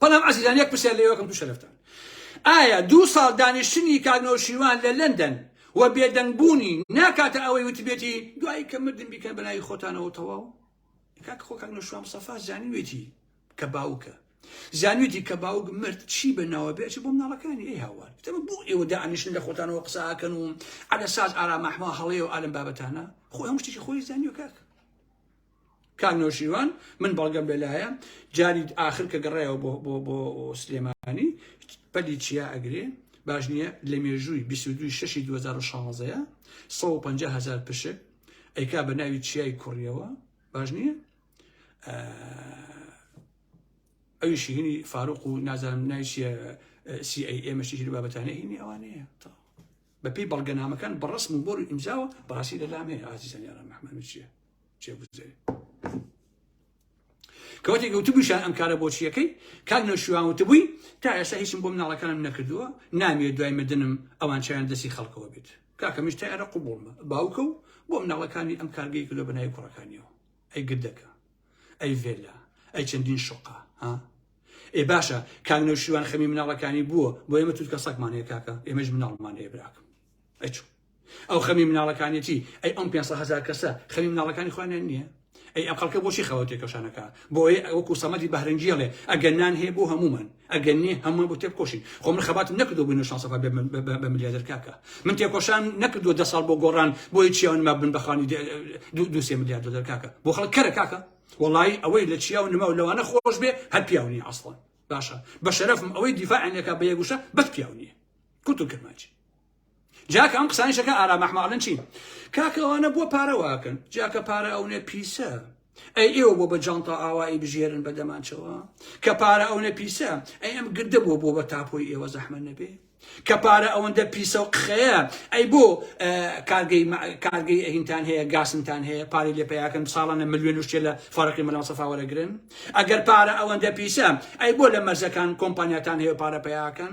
بەڵام ئازیزان یەک پرسیار لێوەکەم دوو شەرفتان ئایا دوو ساڵ دانیشتنی کاک نەوشیروان لە لەندەن و بێدەنگبوونی ناکاتە ئەوەی وتبێتی دوایی کە مردن بیکەن بەناوی خۆتانەوە تەواو کاک خۆ کاک نەوشیروان مستەفا زانیوێتی کە باوکە زانویتی کە باوک مرد چی بە ناوە بێت بۆ مناڵەکانی ئەی هاوار تەمە بۆ ئێوە دانیشتن لە خۆتانەوە قساکەن و عەلە ساز ئارامەحما هەڵەیە و ئالم بابەتانە خۆ هەم شتێکی خۆی زانیو کاک کاک نەوشیروان من بەڵگەم لەلایە جاری ئاخر کە گەڕایەوە بۆ بۆ بۆ سلێمانی پەلی چیا ئەگرێ باش نییە لە مێژووی 22 شەشی 2016ەیە 150 هزار پشک ئەیکا بە ناوی چیای کوڕیەوە باش نییە ئەوی شیهنی فاروق و نازانم ناوی CIA مەشی ژیر بابەتانە هینی ئەوانەیە بەپی بەڵگەنامەکان بەڕسم و بۆر و ئیمزاوە بەڕاستی لە لامەیە ئازیزان یاران محمد چیە کەوتێک وتبووشان ئەم کارە بۆچیەکەی کاک نەوشیوان وتبووی تا ئێستا هیچم بۆ مناڵەکانم نەکردووە نامێ دوای مردنم ئەوان چیان دەستی خەڵکەوە بێت کاکەمیش تا ئێرە قوبوڵمە باوکە و بۆ مناڵەکانی ئەم کارگەی کردو بەناوی کوڕەکانیەوە ئەی گردەکە ئەی ڤێلا ئەی چەندین شقا ها ئێ باشە کاک نەوشیوان خەمی مناڵەکانی بووە بۆ ئێمە توت کە سەکمان هەیە کاکە ئێمەش مناڵمان هەیە براکەم ئەچوو ئەو خەمی مناڵەکانیەتی ئەی ئەم پێنج سەد هەزار کەسە خەمی مناڵەکانی خۆیانیان نییە ئەی ئەم خەڵکە بۆچی خەوە تێکەشانەکە بۆیە ئەوە کوسەمەدی بەهرەنگیەڵێ ئەگەر نان هەیە بۆ هەمومان ئەگەر نیە هەمومان بۆ تێبکۆشین خۆ من خەباتم نەکردو بووین شانسەفا بە ملیادر کاکە من تێکۆشان نەکردو دە ساڵ بۆ گۆڕان بۆی چیاون ما بن بەخانی دوسێ ملیار دلار کاکە بۆ خەڵک کەرە کاکە وڵی ئەوەی لە چیا و نما و لەوانە خۆش بێ هەر پیاونی ئەسڵان باشە بە شەرفم ئەوەی دیفاعێکە بە یەگوشە بەت پیاونیە کوتو کرمانجی جاکە ئەم قسانی شەکە ئارام ئەحمە ئەڵێن چی کاکە ئەوانە بۆ پارە واکەن جاکە پارە ئەونێ پیسە ئەی ئێوە بۆ بە جانتا ئاوایی بژێرن بە دەمانچەوە کە پارە ئەونە پیسە ئەی ئەم گردە بۆ بۆ بە تاپۆی ئێوە زەحمە نەبێ کە پارە ئەوەندە پیسە و قخەیە ئەی بۆ کارگەی کارگەی ئەهینتان هەیە گاسنتان هەیە پارەی لێ پیاکەن ساڵانە ملیۆن شتێ لە فەرقی مەلا سەفاوەرەگرن ئەگەر پارە ئەوەندە پیسە ئەی بۆ لە مەرزەکان کۆمپانیاتان هەیە پارە پیاکەن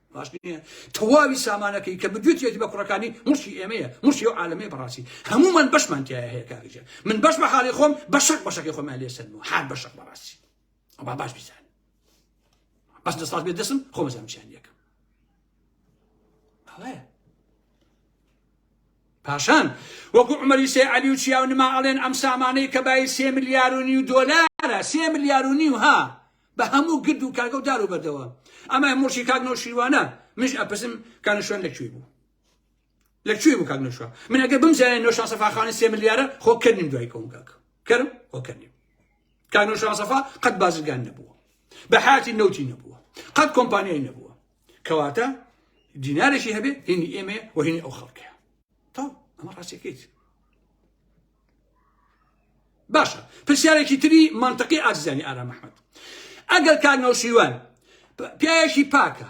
باش نیە تەواوی سامانەکەی کە بدوێتیەتی بە کوڕەکانی موڵکی ئێمەیە موڵکی ئەو عالەمەیە بەڕاستی هەموومان بەشمان تایە هەیە کاکەجان من بەش بە حاڵی خۆم بە شەق بەشەکەی خۆمان لێ سەرمەوە حال بە شەق بەڕاستی ئەوە باش بیزان بەس دەسڵات بێ دەسم خۆ بەزام چیان یەکەم ئەڵەیە پاشان وەکو عمەری سێ عەلی و چیاو نما ئەڵێن ئەم سامانەی کە بای سێ ملیار و نیو دۆلارە سێ ملیار و نیو ها بە هەموو گرد و کاگە و دار و بەردەوە ئەمای مڵکی کاک نەوشیروانە منش ئەپرسم کانەشوێن لە کوێ بوو لە کوێ بوو کاک نەوشوان من ئەگەر بمزانێت نەوشان سەفاخانی سێ ملیارە خۆ کردنیم دوای کەوم کاک کەرم خۆ کردنیم کاک نەوشان سەفا قەت بازرگان نەبووە بە حیاتی نەوتی نەبووە قەت کۆمپانیای نەبووە کەواتە دینارێکی هەبێت هینی ئێمە وهینی ئەو خەڵکەیە تا ئەمە ڕاستەکەیت باشە پرسیارێکی تری منطقی ئازیزانی ئارام ئەحمەد ئەگەر کاک نەوشیوان پیاوێکی پاکە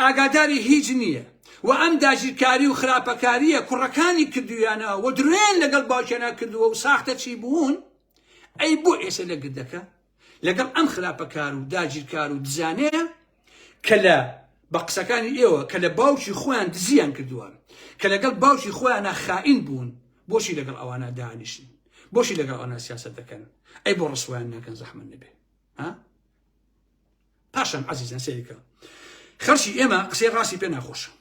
ئاگاداری هیچ نییە و ئەم داگیرکاری و خراپەکاریە کوڕەکانی کردویانە و درێن لەگەڵ باوکیانە کردووە و ساختە چی بوون ئەی بۆ ئێسە لە گردەکە لەگەڵ ئەم خراپەکار و داگیرکار و دزانەیە کە لە بە قسەکانی ئێوە کە لە باوکی خۆیان دزیان کردووە کە لەگەڵ باوکی خۆیانە خائین بوون بۆشی لەگەڵ ئەوانە دانیشن بۆشی لەگەڵ ئەونا سیاست دەکەن ئەی بۆ ڕسویان ناکەن زەحمن نەبێ پاشان عزیزان سەیرکە خەرشی ئێمە قسەی ڕاستی پێ ناخۆشە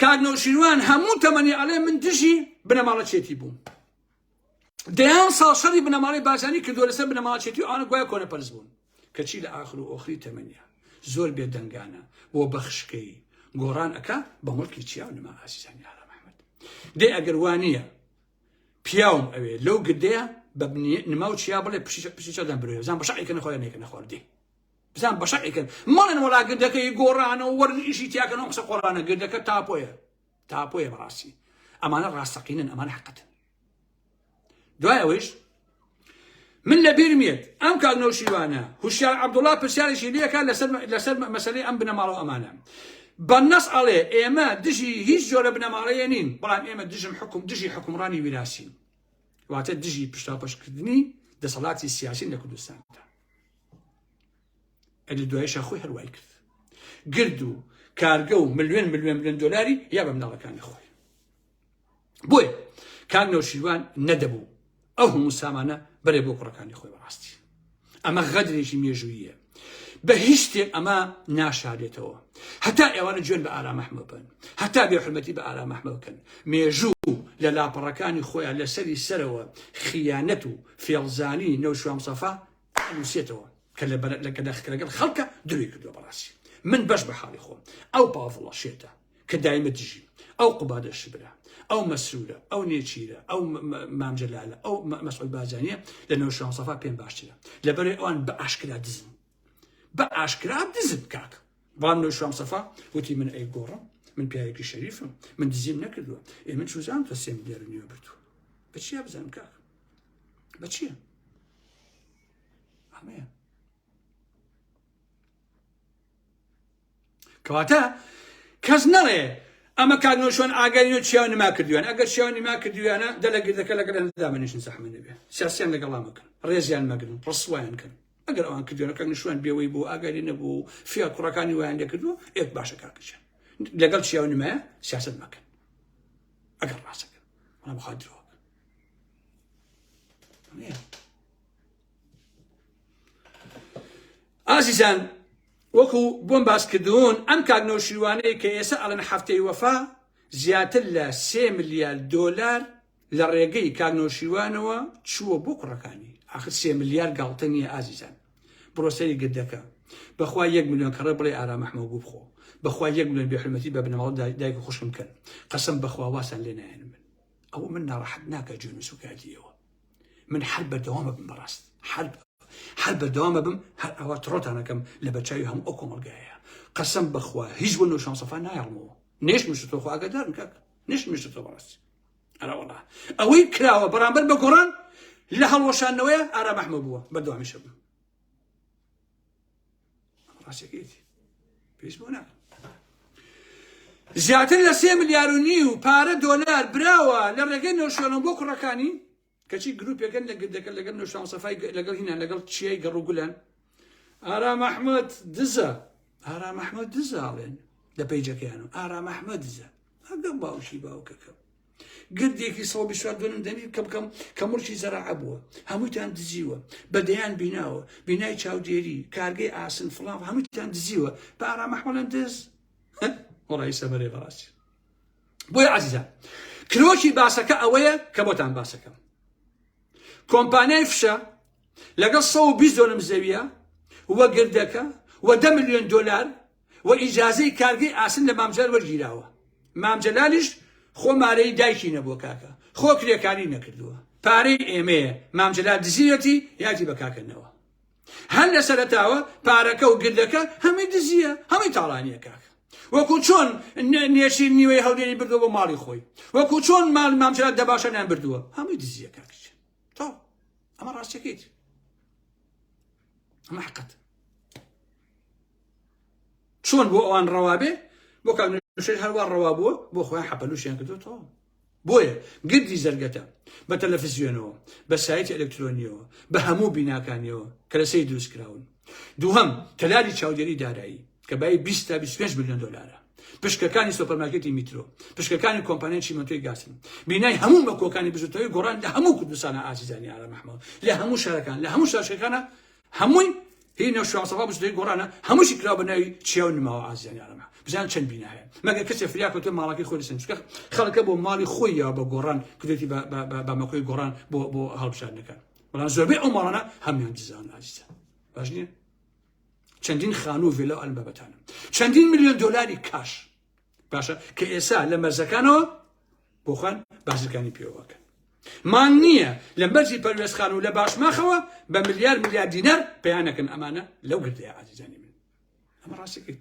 کاک نەوشیروان هەموو تەمەنی ئەڵێ من دژی بنەماڵەچێتی بووم دەیان ساڵ شەڕی بنەماڵەی بارزانی کردووە لەسەر بنەماڵەچێتی و ئەوانە گوایە کۆنەپەرست بوون کەچی لە ئاخر و ئۆخری تەمەنیا زۆر بێدەنگانە بۆ بەخشکەی گۆڕان ئەکا بە مڵکی چیا و نما ئازیزانی ئارام ئەحمەد دێ ئەگەر وانە پیاوم ئەوێ لەو گردەیە بە نما و چیا بڵێ پشی چادان برێ بزان بەشعێکە نەخۆیان نێکە نەخواردی بزان بەشعێکن مەڵێن وڵا گردەکەی گۆڕانە و وەرزشی تیاکەن و قسە قۆڕانە گردەکە تاپۆیە تاپۆیە بەڕاستی ئەمانە ڕاستەقینن ئەمان حقتن دوای ئەوەیش من لە بیرمێت ئەم کاک نەوشیوانە هوشیار عبدوڵا پرسیارێکی لەکە لەسەر لەسەر مەسلەی ئەم بنەماڵە ئەمانە بەنەس ئەڵێ ئێمە دژی هیچ جۆرە بنەماڵەیە نین بەڵام ئێمە دژم حکوم دژی حکومڕانی ویراسین واتە دژی پشتاپەشکردنی دەسەڵاتی سیاسین لە کوردستاندا ئەدی دوایشە خۆی هەروای کرد گرد و کارگە و ملیۆن ملیۆن ملیۆن دۆلاری یا بە مناڵەکانی خۆی بۆیە کاک نەوشیروان نەدەبوو ئەو هەموو سامانە بەرێ بۆ کوڕەکانی خۆی بەڕاستی ئەمە غەدرێکی مێژوویە بە هیچ شتێک ئەمە ناشارێتەوە هەتا ئێوانە جوێن بە ئارامەحمە بن هەتا بێ حرمەتی بە ئارامەحمە بکەن مێژوو لە لاپەڕەکانی خۆیان لەسەری سەرەوە خیانەت و فێڵزانی نەوشوام سەفا ئەنوسێتەوە کە لە بەرە لە کەداخکە لەگەڵ خەڵکە دروی کردووە بەڕاستی من بەش بە حاڵی خۆم ئەو پاڤڵە شێتە کە دایمە دژی ئەو قوبادە شبرە ئەو مەسرورە ئەو نێچیرە ئەو مامجلالە ئەو مەسعود بازانە لە نەوە شانسەفا پێم باشترە لەبەرێ ئەوان بە ئاشکرا دزن بە ئاشکرا دزن کاک بەڵام نەوە شانسەفا وتی من ئەی گۆڕم من پیاوێکی شەریفم من دزیم نەکردووە ئێ من چوزان تۆ سێم لێرە نوێ بردووە بەچیا بزانم کاک بە چییە؟ ئەمەیە کەواتە کەس نەڵێ ئەمە کاک نۆشۆن ئاگەری و چیان نما کردویان ئەگەر چیان نما کردویانە دە لە گردەکە لەگەر ئەندا منیشن زەحمە نەبێ سیاسیان لەگەڵا مەکەن ڕێزیان مەگرن ڕسوایان کەن ئەگەر ئەوان کردویانە کاک نشوان بێەوەی بۆ ئاگەری نەبوو فیا کوڕەکانی وایان لەکردو ئێک باشە کاکچیان لەگەڵ چیاو نمایە سیاست مەکەن ئەگەر ڕاستەکەن ڕام خاترەوە ئازیزان وەکو بۆم باس کردوون ئەم کاک نەوشیروانەیە کە ئێستا ئەڵەن هەفتەی وەفا زیاتر لە سێ ملیار دۆلار لە ڕێگەی کاک نەوشیروانەوە چووە بۆ کوڕەکانی آخر سێ ملیار گاڵتە نییە ئازیزان بڕۆسەری گردەکە بەخوا یەک میلیۆن کەڕە بڵێ ئارامەحمەگو بخۆ بەخوا یەک میلیۆن بێحرمەتی بە بنەماڵ دایک خوشم کەن قەسم بەخوا واسان لێ نایەن من ئەوە من ناڕەحەت ناکە جوێن و سوکایەتی ئێوە من هەر بەردەوامە بم بەڕاست هەر هەر بەردەوامە بم هەر ئەوە تڕۆتانەکەم لە بەچوی هەموو ئەو کۆمەلگایە قەسم بخوا هیچ بۆ نوشان سەفا نایڵمەوە نێش مشتۆ خۆ ئاگدار بکە نش مشتۆ بەڕاست ئەراوەڵا ئەوەی کراوە بەرامبەر بە گۆڕان لە هەڵوەشانەوەی ئارا بەحمە بووە بەردەوامیشە بوو زیاتر لە سێ ملیار و نیو پارە دۆلار براوە لە ڕێگەی نۆشیۆنە بۆ کوڕەکانی کەچی گروپێکن لە گردەکە لەگەر نۆشان سەفای لەگەڵ هینا لەگەڵ چیای گەڕ و گولان ئارا مححمد دزە ئارا مححمد دزاڵێن لە پەیجەکەیان و ئارا مححمە دزە هەگەم باوشی باوکەکەم گردێکی سەد و بیست و چوار دۆنم دەمیر کە بکەم کە مڵکی زەراعە بووە هەمووتان دزیوە بە دەیان بیناوە بینای چاودێری کارگەی ئاسن فڵاو هەمووتان دزیوە بە ئارامەحمەڵەن دز وڵی سەمەرێ بەڕاستی بۆی عزیزان کرۆکی باسەکە ئەوەیە کە بۆتان باسەکەم کۆمپانیای فشە لەگەڵ 120 دۆنم زەویە وە گردەکە وە دە میلیۆن دلار و ئیجازەی کارگەی ئاسن لە مام جەلال وەرگیراوە مام جەلالیش خۆ مارەی دایکی نەبووە کاکە خۆ کرێکاری نەکردووە پارەی ئێمەیە مام جەلال دزیەتی یادی بە کاکە نەوە هەر لە سەرەتاوە پارەکە و گردەکە هەمووی دزیە هەمووی تاڵانیە کاکە وەکو چۆن نێشیر نیوەی هەولێری بردو بۆ ماڵی خۆی وەکو چۆن مال مامجرات دەباشەنیان بردووە هەمووی دزیە کاکچ تاو ئەمە ڕاستەکەیت ئەمە حقت چۆن بۆ ئەوان ڕەوابێ بۆ کاژێر هەروە ڕەوا بووە بۆ خۆیان حەپەلوشیان کردوتەوە بۆیە گردی زەرگەتە بە تەلەفزیۆنەوە بە سایتی ئەلکترۆنیەوە بە هەموو بیناکانیەوە کە لەسەی دروستکراون دووهم تەلاری چاودێری دارایی کە بای بیست تا بیست و پێنج ملیۆن دۆلارە، پشکەکانی سۆپەرمارکێتی میترۆ، پشکەکانی کۆمپانیای چیمەنتۆی گاسن، بینای هەموو مەکۆکانی بزووتنەوەی گۆڕان لە هەموو کوردستانە ئازیزانی ئارام ئەحمەد، لە هەموو شارەکان، لە هەموو شارچکەکانە، هەمووی هی نەوشیروان مستەفا بزووتنەوەی گۆڕانە، هەمووشی کراوە بە ناوی چیا و نماوە ئازیزانی ئارام ئەحمەد، بزانن چەند بینا هەیە، مەگەر کەسێ فریا کەوتووە ماڵەکەی خۆی لەسەر بچکە خەڵکە بۆ ماڵی خۆی یاوە بە گۆڕان کردوێتی بە بە بە بە مەکۆی گۆڕان بۆ بۆ هەڵبژاردنەکان، بەڵام زۆربەی ئەو ماڵانە هەموویان دزراون ئازیزان باش نییە؟ چەندین خانوو ڤێلا ئەلبابەتانە چەندین میلیۆن دلاری کاش باشە کە ئێسا لە مەرزەکانەوە بۆخۆن بازرگانی پێوەکەن مان نییە لە مەرزی پەروێستخان و لە باشماخەوە بە ملیار ملیار دینەر پێیانەکەن ئەمانە لەو گردەیە ئازیزانی من ئەمە ڕاستەکەیت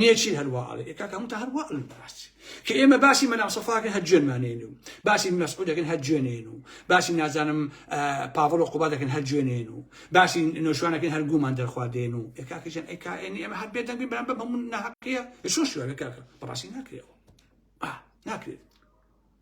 نێچیر هەر وا ئەڵێ کاک هەمووتان هەر وا ئەڵێن بەڕاست کە ئێمە باسی مەلا سەفاکەن هەر جوێنمانێن و باسی مەسعود دەکەن هەر جوێنێن و باسی نازانم پاڤڵ و قوبا دەکەن هەر جوێنێن و باسی نۆشوانەکەن هەر گومان دەرخواردێن و کاکەجان ئەی کائێنی ئێمە هەر بێدەنگی بەرامبە بەمون ناهەقەیە شۆ شوێنە کاکە بەڕاستی ناکرێەوە ناکرێت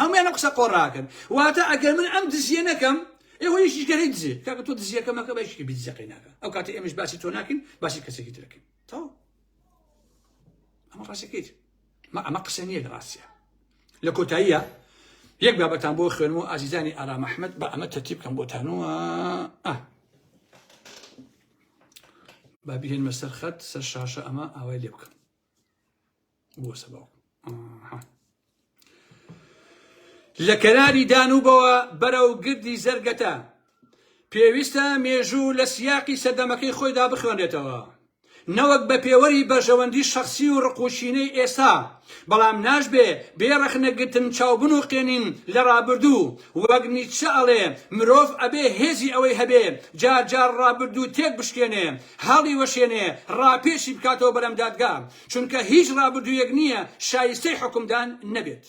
هەموویان ئەم قسە قۆڕاکەن واتە ئەگەر من ئەم دزیە نەکەم ئێوە یەکیش گەرەی دزێ کاکە تۆ دزیەکە مەکە بە یەکێکی دزیەکەی ناکە ئەو کاتە ئێمەش باسی تۆ ناکەین باسی کەسێکی ترەکەین تەواو ئەمە ڕاستەکەیت ما ئەمە قسە نییە لە ڕاستە لە کۆتاییە یەک بابەتان بۆ خوێنم و ئازیزانی ئارا مححمد بە ئەمە تەتیب بکەم بۆتانەوە بابیێن مەسەر خەت سەر شاشە ئەمە ئاوای لێ بکەم بۆ سەباو لە کەناری دانوبەوە بەرەو گردی زەرگەتە پێویستە مێژوو لە سیاقی سەردەمەکەی خۆیدا بخوێنێتەوە نەوەک بە پێوەری بەژەوەندی شخصی و ڕقوچینەی ئێستا بەڵام ناشبێ بێڕەخنەگرتن چاوبن و قێنین لە ڕابردوو وەک نیچە ئەڵێ مرۆڤ ئەبێ هێزی ئەوەی هەبێ جارجار ڕابردوو تێک بشکێنێ هەڵیوەشێنێ ڕاپێچی بکاتەوە بەلەم دادگا چونکە هیچ ڕابردوویەک نییە شایستەی حوکمدان نەبێت.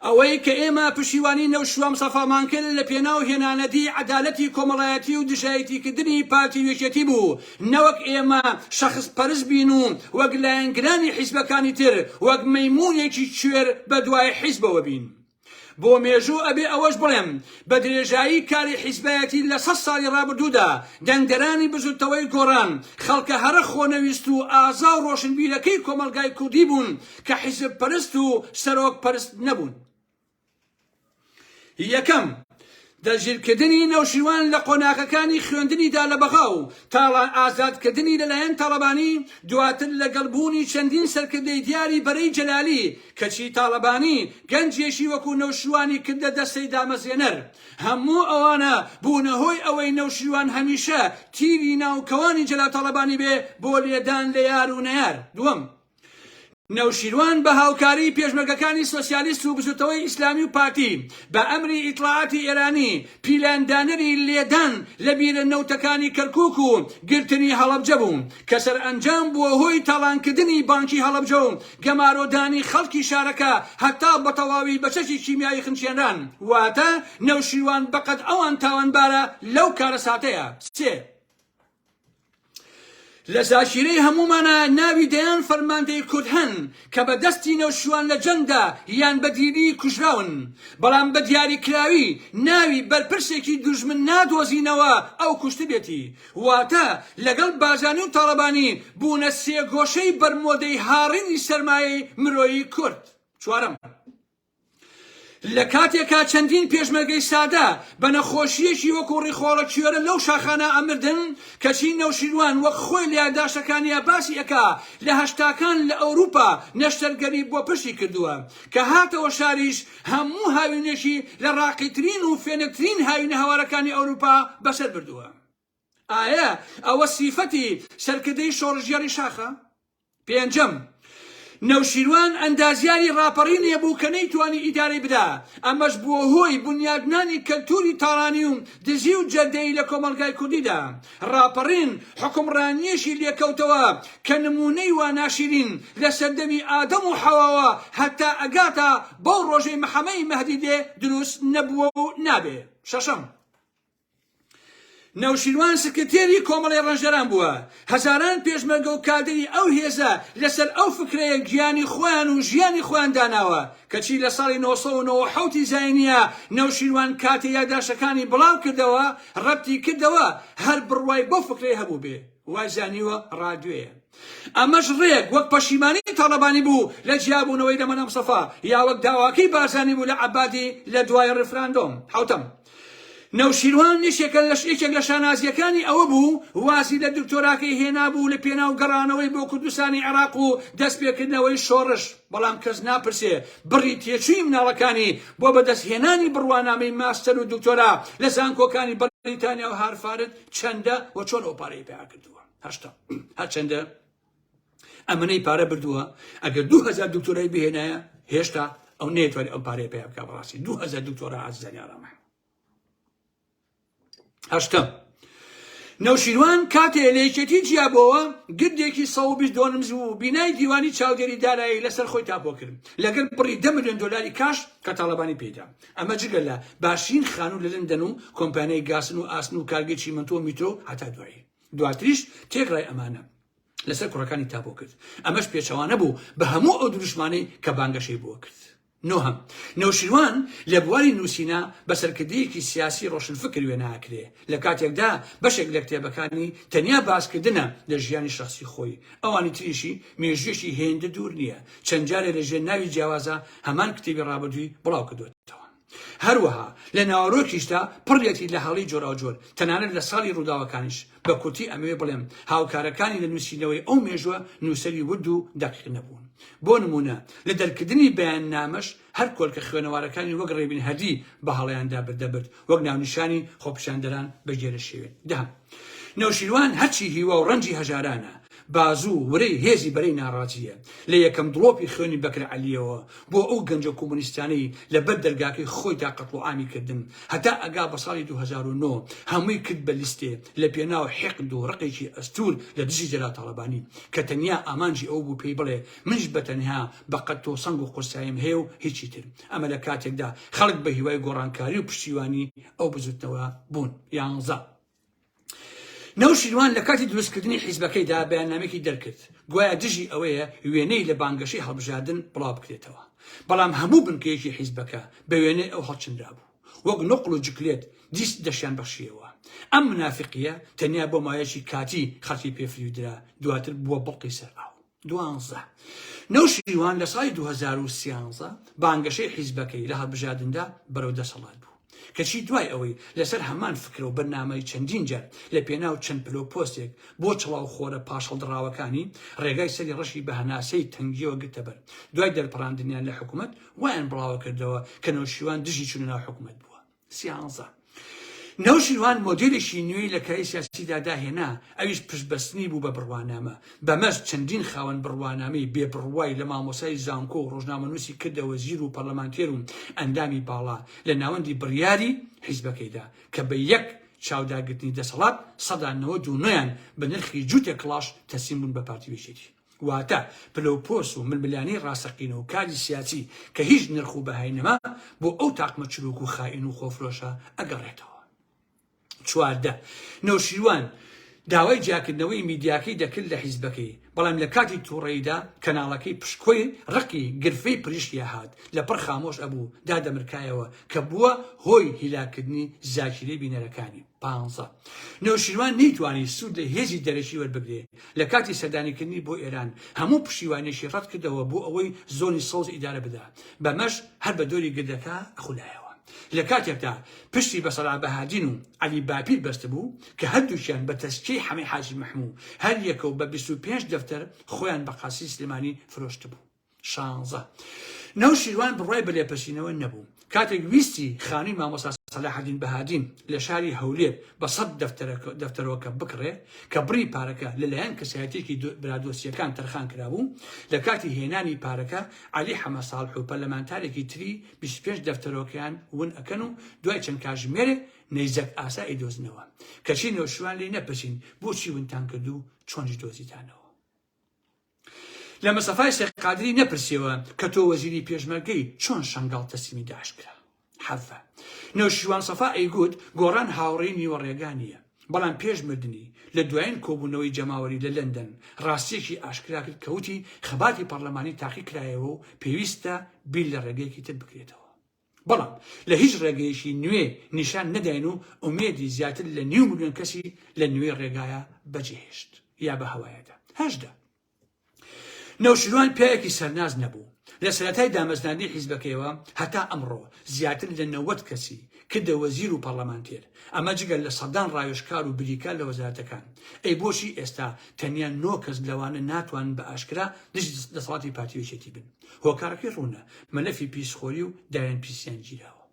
ئەوەی کە ئێمە پشیوانی نەوشوام سەفامان کرد لە پێناو هێنانەدی عەدالەتی کۆمەڵایەتی و دژایەتی کردنی پارتی و یەکێتی بوو نەوەک ئێمە شەخس پەرست بین و وەک لایەنگرانی حیزبەکانی تر وەک مەیمونێکی کوێر بەدوای حیزبەوە بین. بۆ مێژوو ئەبێ ئەوەش بڵێم بە درێژایی کاری حیزبایەتی لە سەد ساڵی ڕابردوودا دەنگدەرانی بزوتەوەی گۆڕان خەڵکە هەرە خۆنەویست و ئازا و ڕۆشنبیرەکەی کۆمەڵگای کوردی بوون کە حیزب پەرست و سەرۆک پەرست نەبوون یەکەم دەستگیرکردنی نەوشیروان لە قۆناغەکانی خوێندنیدا لە بەغا و تاڵان ئازادکردنی لەلایەن تاڵەبانی دواتر لەگەڵ بوونی چەندین سەرکردەی دیاری بەرەی جەلالی کەچی تاڵەبانی گەنجێکی وەکو نەوشیروانی کردە دەستەی دامەزرێنەر هەموو ئەوانە بوونە هۆی ئەوەی نەوشیروان هەمیشە تیری ناو کەوانی جەلاتاڵەبانی بێ بۆ لێدان لە یار و نەیار دووەم نەوشیروان بە هاوکاریی پێشمەرگەکانی سۆسیالیست و بزوتەوەی ئیسلامی و پارتی بە ئەمری ئیتڵاعاتی ئێرانی پیلاندانەری لێدان لە بیرە نەوتەکانی کەرکوک و گرتنی هەڵەبجە بوو کە سەرئەنجام بووە هۆی تاڵانکردنی بانکی هەڵەبجە و گەمارۆدانی خەڵکی شارەکە هەتا بەتەواوی بە چەکی کیمیایی خنچێنران واتە نەوشیروان بەقەد ئەوان تاوانبارە لەو کارەساتەیە سێ لە زاکیرەی هەموومانە ناوی دەیان فەرماندەی کورد هەن کە بە دەستی نەوشیروان لە جەنگدا یان بە دیلی کوژراون، بەڵام بە دیاریکراوی ناوی بەرپرسێکی دوژمن نادۆزینەوە ئەو کوشتبێتی. واتە لەگەڵ بارزانی و تاڵەبانی بوونە سێگۆشەی بەرمۆدەی هاڕینی سەرمایەی مرۆیی کورد. چوارەم. لە کاتێکا چەندین پێشمەرگەی سادە بە نەخۆشییەکی وەکوو ڕیخۆڵە کیۆرە لەو شاخانە ئەمردن، کەچی نەوشیروان وەک خۆی لە یاداشتەکانیا باسی ئەکا لە هەشتاکان لە ئەوروپا نەشتەرگەری بۆ پشتی کردووە، کە هاتەوە شاریش هەموو هاوینێکی لە ڕاقیترین و فێنکترین هاوینە هەوارەکانی ئەوروپا بەسەر بردووە. ئایە ئەوە سیفەتی سەرکردەی شۆڕشگێڕی شاخە؟ پێنجەم، نەوشیروان ئەندازیاری ڕاپەڕینێ بوو کە نەیتوانی ئیدارەی بدا، ئەمەش بووە هۆی بونیادنانی کەلتووری تاڵانی و دزی و جەردەیی لە کۆمەڵگای کوردیدا. ڕاپەڕین حوکمڕانییەکی لێ کەوتەوە کە نموونەی وا ناشیرین لە سەردەمی ئادەم و حەواوە هەتا ئەگاتە بەو ڕۆژەی محەمەی مەهدی دێ دروست نەبووە و نابێ. شەشەم. نەوشیروان سکرتێری کۆمەڵەی ڕەنجدەران بووە، هەزاران پێشمەرگە و کادری ئەو هێزە لەسەر ئەو فکرەیە گیانی خۆیان و ژیانی خۆیان داناوە، کەچی لە ساڵی نۆ سەد و نەوەد و حەوت ی زاینیە نەوشیروان کاتێ یاداشتەکانی بڵاو کردەوە ڕەتی کردەوە هەر بڕوای بەو فکرەیە هەبووبێ وای زانیوە ڕادوێیە ئەمەش ڕێک وەک پەشیمانی تاڵەبانی بوو لە جیابوونەوەی لە مەلا مسەفا یا وەک داواکەی بارزانی بوو لە عەبادی لە دوای ڕیفراندۆم حەوتەم نەوشیروان یەکێکە لەش یەکێک لە شانازییەکانی ئەوە بوو وازی لە دکتۆراکەی هێنابوو لە پێناو گەڕانەوەی بۆ کوردستانی عێراق و دەست پێکردنەوەی شۆڕش، بەڵام کەس ناپرسێ بڕی تێچووی مناڵەکانی بۆ بەدەست هێنانی بڕوانامەی ماستەر و دکتۆرا لە زانکۆکانی بەریتانیا و هارفارد چەندە و چۆن ئەو پارەی پەیا کردووە؟ هەشتا. هەرچەندە ئەمەنەی پارە بردووە ئەگەر دوو هزار دکتۆرای بهێنایە هێشتا ئەو نێتوانێت ئەم پارەیە پێ بکە بەڕاستی دوو هزار دکتۆرا ئازیزانی ئارامە هەشتم نەوشیروان کاتێ لە یەکێتی جیابەوە گردێکی 120 دۆنم زوو بینای دیوانی چاودێری دارایی لەسەر خۆی تاپۆ کرد لەگەر بڕی دە میلیۆن دلاری کاش کە تاالبانی پیدا ئەمە جگە لە باشین خانوو لە لندەن و کۆمپانیای گاسن و ئاسن و کارگەی چیمەنتۆ میتۆ هەتا دوایی دواتریش تێکڕای ئەمانە لەسەر کوڕەکانی تابۆ کرد، ئەمەش پێچەوانە بوو بە هەموو ئەو دروشمانەی کە بانگەشەی بۆ کرد. نۆهەم، نەوشیروان لە بواری نووسینە بە سەرکردەیەکی سیاسی رۆشنفکر وێنا ئەکرێ، لە کاتێکدا بەشێک لە کتێبەکانی تەنیا باسکردنە لە ژیانی شەخسی خۆی، ئەوانی تریشی مێژوویەکی هێندە دوور نییە، چەند جارێ لە ژێر ناوی جیاوازا هەمان کتێبی رابردووی بڵاو کردۆتەوە. هەروەها لە ناوەرۆکیشدا پڕیەتی لە هەڵەی جۆراوجۆر، تەنانەت لە ساڵی ڕووداوەکانیش، بە کورتی ئەمەوێ بڵێم هاوکارەکانی لە نووسینەوەی ئەو مێژووە نووسەری ورد و دەقیق نەبوون. بۆ نموونە لە دەرکردنی بەیاننامەش هەر کۆلکە خوێنەوارەکانی وەک ڕێبین هەردی بە هەڵەیاندا بردەبرد وەک ناونیشانی خۆپیشاندەران بە گێرەشێوێن. دە. نەوشیروان هەرچی هیوا و ڕەنجی هەژارانە، بازوو و ورەی هێزی بەرەی ناڕازییە، لە یەکەم دڵۆپی خوێنی بەکر عەلییەوە بۆ ئەو گەنجە کۆمۆنیستانەی لە بەر دەرگاکەی خۆیدا قەتڵوعامی کردن، هەتا ئەگا بە ساڵی دوو هەزار و نۆ، هەمووی کرد بە لیستێ لە پێناو حیقد و ڕقێکی ئەستوور لە دژی جەلال تاڵەبانی، کە تەنیا ئامانجی ئەو بوو پێی بڵێ منیش بە تەنها بە قەد تۆ سەنگ و قورساییم هەیە و هیچی تر. ئەمە لە کاتێکدا خەڵک بە هیوای گۆڕانکاری و پشتیوانی ئەو بزوتنەوە بوون یانزە. نەوشیروان لە کاتی دروستکردنی حیزبەکەیدا بەیاننامێکی دەرکرد گوایە دژی ئەوەیە وێنەی لە بانگەشەی هەڵبژاردن بڵاو بکرێتەوە بەڵام هەموو بنکەیەکی حیزبەکە بە وێنەی ئەو هەڵچنرا بوو وەک نقل و جکلێت دیست دەشیان بەخشیەوە ئەم منافقیە تەنیا بۆ مایەکی کاتی خەڵکی پێفریودرا دواتر بووە بڵقی سەر ئاو دوانزە. نەوشیروان لە ساڵی دوو هەزار و سیانزە بانگەشەی حیزبەکەی لە هەڵبژاردندا بەرەو دەسەڵات بوو، کەچی دوای ئەوەی لەسەر هەمان فکرە و بەرنامەی چەندین جار لە پێناو چەند پلە و پۆستێک بۆ چڵاو خۆرە پاشهەڵدڕاوەکانی ڕێگای سەری ڕەشی بە هەناسەی تەنگیەوە گرتەبەر دوای دەرپەڕاندنیان لە حکومەت وایان بڵاوەکردەوە کە نەوشیروان دژی چونە ناو حکومەت بووە. سیانزە. نەوشیروان مۆدێلێکی نوێی لە کایەی سیاسیدا داهێنا، ئەویش پشتبەستنی بوو بە بڕوانامە، بەمەش چەندین خاوەن بڕوانامەی بێ بڕوای لە مامۆستای زانکۆ و رۆژنامەنووسی کردە وەزیر و پەرلەمانتێر و ئەندامی باڵا لە ناوەندی بڕیاری حیزبەکەیدا کە بە یەک چاوداگرتنی دەسەڵات سەدا نەوەد و نۆیان بە نرخی جووتێک کڵاش تەسلیم بوون بە پارتی و یەکێتی. واتە پلە و پۆست و ململانێی ڕاستەقینە و کاری سیاسی کە هیچ نرخ و بەهای نەما بۆ ئەو تاقمە چرووک و خائین و خۆفرۆشە ئەگەڕێتەوە. چواردە. نەوشیروان داوای جیاکردنەوەی میدیاکەی دەکرد لە حیزبەکەی، بەڵام لە کاتی توڕەییدا کەناڵەکەی پشکۆی ڕقی گرفەی پریشکیا هات، لە پڕ خامۆش ئەبوو، دادەمرکایەوە، کە بووە هۆی هیلاککردنی زاکیرەی بینەرەکانی. پانزە. نەوشیروان نەیتوانی سوود لە هێزی دەرەکی وەربگرێ، لە کاتی سەردانیکردنی بۆ ئێران هەموو پشتیوانیەکی ڕەت کردەوە بۆ ئەوەی زۆنی سەوز ئیدارە بدا، بەمەش هەر بە دۆری گردەکە خولایەوە. لە کاتێکدا پشتی بە سەرا بەهادین و عەلی باپیر بەستبوو کە هەردووکیان بە تەزکیەی حەمەی حاجی مەحموو هەر یەکەو بە بیست و پێنج دەفتەر خۆیان بە قاسری سلێمانی فرۆشتبوو. شانزە. نەوشیروان بڕوای بە لێپرسینەوە نەبوو. کاتێک ویستی خانوی مامۆستا سەلاحەدین بەهادین لە شاری هەولێر بە سەد دەفتەرۆکە بکڕێ کە بڕی پارەکە لەلایەن کەسایەتێکی برادۆسییەکان تەرخان کرابوو، لە کاتی هێنانی پارەکە عەلی حەمە ساڵح و پەرلەمانتارێکی تری بیست و پێنج دەفتەرۆکەیان ون ئەکەن و دوای چەند کاژمێرێ نەیزەک ئاسا ئەیدۆزنەوە. کەچی نەوشیروان لێی نەپرسین بۆچی ونتان کردو چۆنیش دۆزیتانەوە؟ لە مستەفای شێخ قادری نەپرسیەوە کە تۆ وەزیری پێشمەرگەی چۆن شەنگاڵ تەسلیمی داعش کرا حەڤە نەوشیروان سەفا ئەیگوت گۆڕان هاوڕێی نیوەڕێگا نییە بەڵام پێش مردنی لە دوایین کۆبوونەوەی جەماوەری لە لەندەن ڕاستیەکی ئاشکرا کرد کەوتی خەباتی پەرلەمانی تاقی کرایەوە و پێویستە بیر لە ڕێگەیەکی تر بکرێتەوە بەڵام لە هیچ ڕێگەیەکی نوێ نیشان نەداین و ئومێدی زیاتر لە نیو ملیۆن کەسی لە نوێ ڕێگایە بەجێهێشت یا بە هەوایەدا هەشدا نەوشیروان پیاوێکی سەرناز نەبوو لە سەرەتای دامەزراندنی حیزبەکەیەوە هەتا ئەمڕۆ زیاتر لە نەوەد کەسی کردە وەزیر و پەرلەمانتێر ئەمە جگەل لە سەدان ڕاوێژکار و بریکار لە وەزارەتەکان ئەی بۆچی ئێستا تەنیا نۆ کەس لەوانە ناتوانن بە ئاشکرا دژی دەسەڵاتی پارتی یەکێتی بن هۆکارەکەی ڕوونە، مەلەفی پیسخۆری و دایەن پیسیان گیراوە.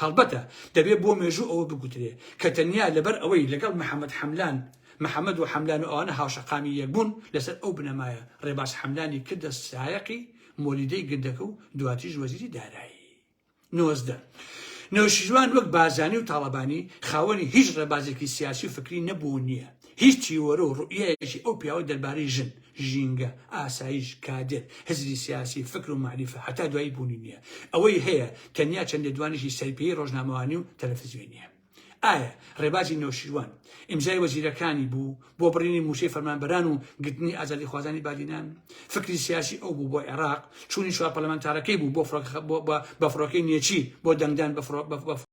هەڵبەتە دەبێ بۆ مێژوو ئەوە بگوترێ کە تەنیا لەبەر ئەوەی لەگەڵ محەمەد حەملان، محەمەد و حەملان و ئەوانە هاوشەقامی یەک بوون، لەسەر ئەو بنەمایە ڕێباز حەملانی کردە سایەقی مۆلیدەی گردەکە و دواتریش وەزیری دارایی. نۆزدە، نەوشیروان وەک بارزانی و تاڵەبانی خاوەنی هیچ ڕێبازێکی سیاسی و فکری نەبوو و نییە، هیچ تیۆرە و ڕوئیەیەکی ئەو پیاوە دەربارەی ژن، ژینگە، ئاسایش، کادر، هزری سیاسی، فکر و مەعریفە هەتا دوایی بوونی نییە، ئەوەی هەیە تەنیا چەند لێدوانێکی سەرپێیی ڕۆژنامەوانی و تەلەفزیۆنییە. ئایا ڕێبازی نەوشیروان ئیمزای وەزیرەکانی بوو بۆ بڕینی مووچەی فەرمانبەران و گرتنی ئازادیخوازانی بادینان فکری سیاسی ئەو بوو بۆ عێراق چوونی چوار پەلەمانتارەکەی بوو بۆ بە فڕۆکەی نێچی بۆ دەنگدان بە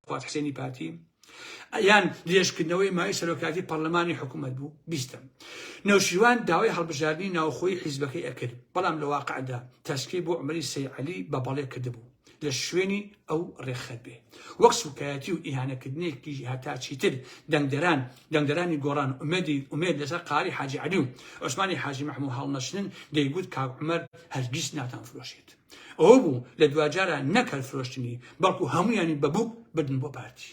فڕات حسێنی پارتی یان درێژکردنەوەی مای سەرۆکاتی پەرلەمانی حکوومەت بوو بیستم نەوشیروان داوای هەڵبژاردننی ناوخۆی حیزبەکەی ئەکرد بەڵام لە واقعدا تەسکی بۆ عمری سەیعلی بە بەڵێ کردبوو لە شوێنی ئەو ڕێکخەر بێ وەک سوکایەتی و ئیهانەکردنێکی هەتا چیتر دەنگدەران دەنگدەرانی گۆڕان ئومێدی ئومێد لەسەر قاری حاجی عەلی و عوسمانی حاجی محموو هەڵنەچنن دەیگوت کاک عومەر هەرگیز ناتان فرۆشێت ئەوە بوو لە دواجارە نەک هەر فرۆشتنی بەڵکو هەموویانی بەبووک بردن بۆ پارتی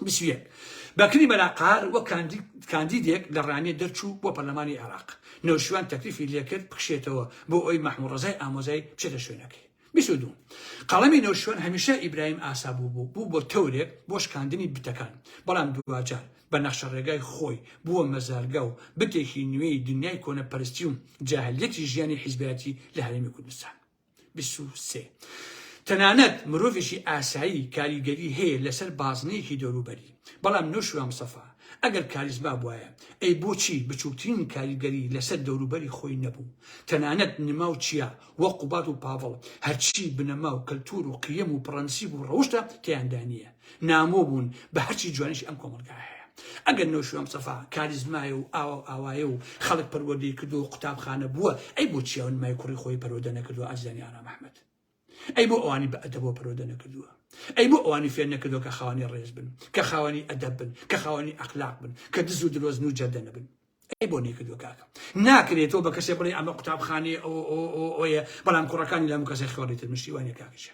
بیست و یەک، بەکری مەلا قەهار وەک کاندیدێک لە ڕانیە دەرچوو بۆ پەرلەمانی عێراق، نەوشیروان تەکلیفی لێکرد بکشێتەوە بۆ ئەوی مەحموڕەزای ئامۆزای بچێتە شوێنەکەی. بیست و دوو، قەڵەمی نەوشیروان هەمیشە ئیبراهیم ئاسا بوو بوو بوو بۆ تەورێک بۆ شکاندنی بتەکان، بەڵام دواجار بە نەخشەڕێگای خۆی بووە مەزارگە و بتێکی نوێی دنیای کۆنەپەرستی و جاهلیەتی ژیانی حیزبایەتی لە هەرێمی کوردستان. بیست و سێ. تەنانەت مرۆڤێکی ئاسایی کاریگەری هەیە لەسەر بازنەیەکی دەوروبەری، بەڵام نەوشیروان مستەفا ئەگەر کاریزما بوایە ئەی بۆچی بچوکترین کاریگەری لەسەر دەوروبەری خۆی نەبوو؟ تەنانەت نما و چیا و قوباد و پاڤڵ هەرچی بنەما و کەلتور و قیەم و پڕەنسیب و ڕەوشتە تێیاندا نییە. نامۆ بوون بە هەرچی جوانیش ئەم کۆمەلگا هەیە ئەگەر نۆشیۆم سەفا کاریزمایە و ئاوا و ئاوایە و خەڵک پەروەردەی کردو و قوتابخانە بووە ئەی بۆ چیاون مای کوڕی خۆی پەرۆدە نەکردووە ئازیزانی ئارام ئەحمەد ئەی بۆ ئەوانی بە ئەدەبەوە پەرۆدە نەکردووە ئەی بۆ ئەوانی فێر نەکردووە کە خاوەنی ڕێز بن کە خاوەنی ئەدەب بن کە خاوەنی ئەخلاق بن کە دز و درۆزن و جەردە نەبن ئەی بۆ نەکردووە کاکە ناکرێتەوە بە کەسێ بڵێ ئەمە قوتابخانەیە ئەو ئەوە ئەوەیە بەڵام کوڕەکانی لەم کەسێ خۆڕیتر مشتیوانە کاکەشە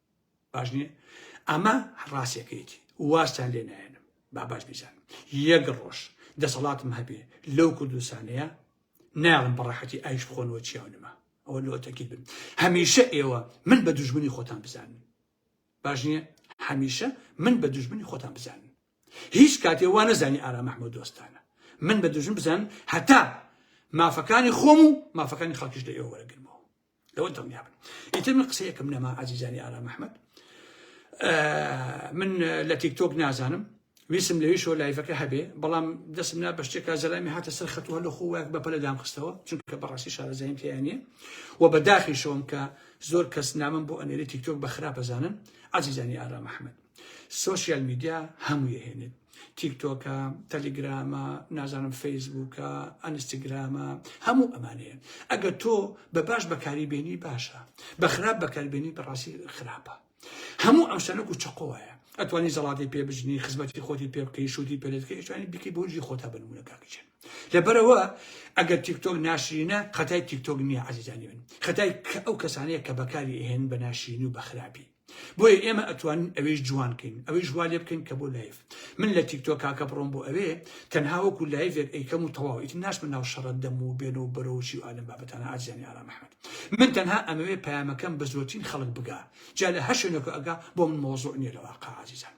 باش نییە ئەمە ڕاستەکەیتی وازتان لێ نایەنم با باش بیزان یەک ڕۆژ دەسەڵاتم هەبێ لەو کوردستانەیە ناڵم بەڕەحەتی ئایش بخۆنەوە چیاونمە ئەوە لۆ تەکیل بن هەمیشە ئێوە من بە دوژمنی خۆتان بزانن باش نییە هەمیشە من بە دوژمنی خۆتان بزانن هیچ کاتێ وا نەزانی ئارا مححمود دۆستانە من بە دوژم بزان هەتا مافەکانی خۆم و مافەکانی خەڵکیش لە ئێوە وەرەگرمەوە لەوە دڵنیا بن ئیتر من قسەیەکم نەما ئازیزانی ئارام ئەحمد من لە تیکتۆک نازانم ویسم لەویشەوە لایفەکە هەبێ بەڵام دەستم نا بە شتێکا زەلامی هاتە سەر خەتووە لە خۆوەک بە پەلەدام خستەوە چونکە بەڕاستی شارەزایم تیانە و بەداخیشەوەم کە زۆر کەس نامم بۆ ئەنێری تیکتۆک بە خراپەزانن ئازیزانی ئارام ئەحمد سۆشیال میدیا هەموو یەهێنێت تیکتۆکە تەلیگرامە نازانم فەیسبووکە ئەنستگرامە هەموو ئەمانەیە ئەگە تۆ بە باش بەکاری بێنی باشە بە خراپ بەکاربێنی بەڕاستی خراپە هەموو ئەم شتەنەک و چقۆیە ئەتوانی زەڵاتی پێ بژنی خزمەتی خۆتی پێ بکەی شووتی پێلێتکە ئێشانی بکەی بۆجی خۆتا بنمونە کاکچێن لەبەرەوە ئەگەر تیکتۆک ناشرینە خەتای تیکتۆک نییە عزیزانی من خەتای ئەو کەسانەیە کە بەکاری هێن بە ناشرینی و بەخراپی بۆیە ئێمە ئەتوانین ئەوێش جوان کەین ئەوەیش وا لێ بکەین کە بۆ لایف من لە تیکتۆ کاکە بڕۆم بۆ ئەوێ تەنها وەکو لایڤێک ئەیکەم و تەواو ئیتر ناشمە ناو شەڕە دەم و بێن و بەرەوچی و ئالم بابەتانە ئازیانی ئارام ئەحمەد من تەنها ئەمەوێ پەیامەکەم بە زۆرترین خەڵک بگا جا لە هەر شوێنێک ئەگا بۆ من مەوزوع نییە لە واقع عزیزان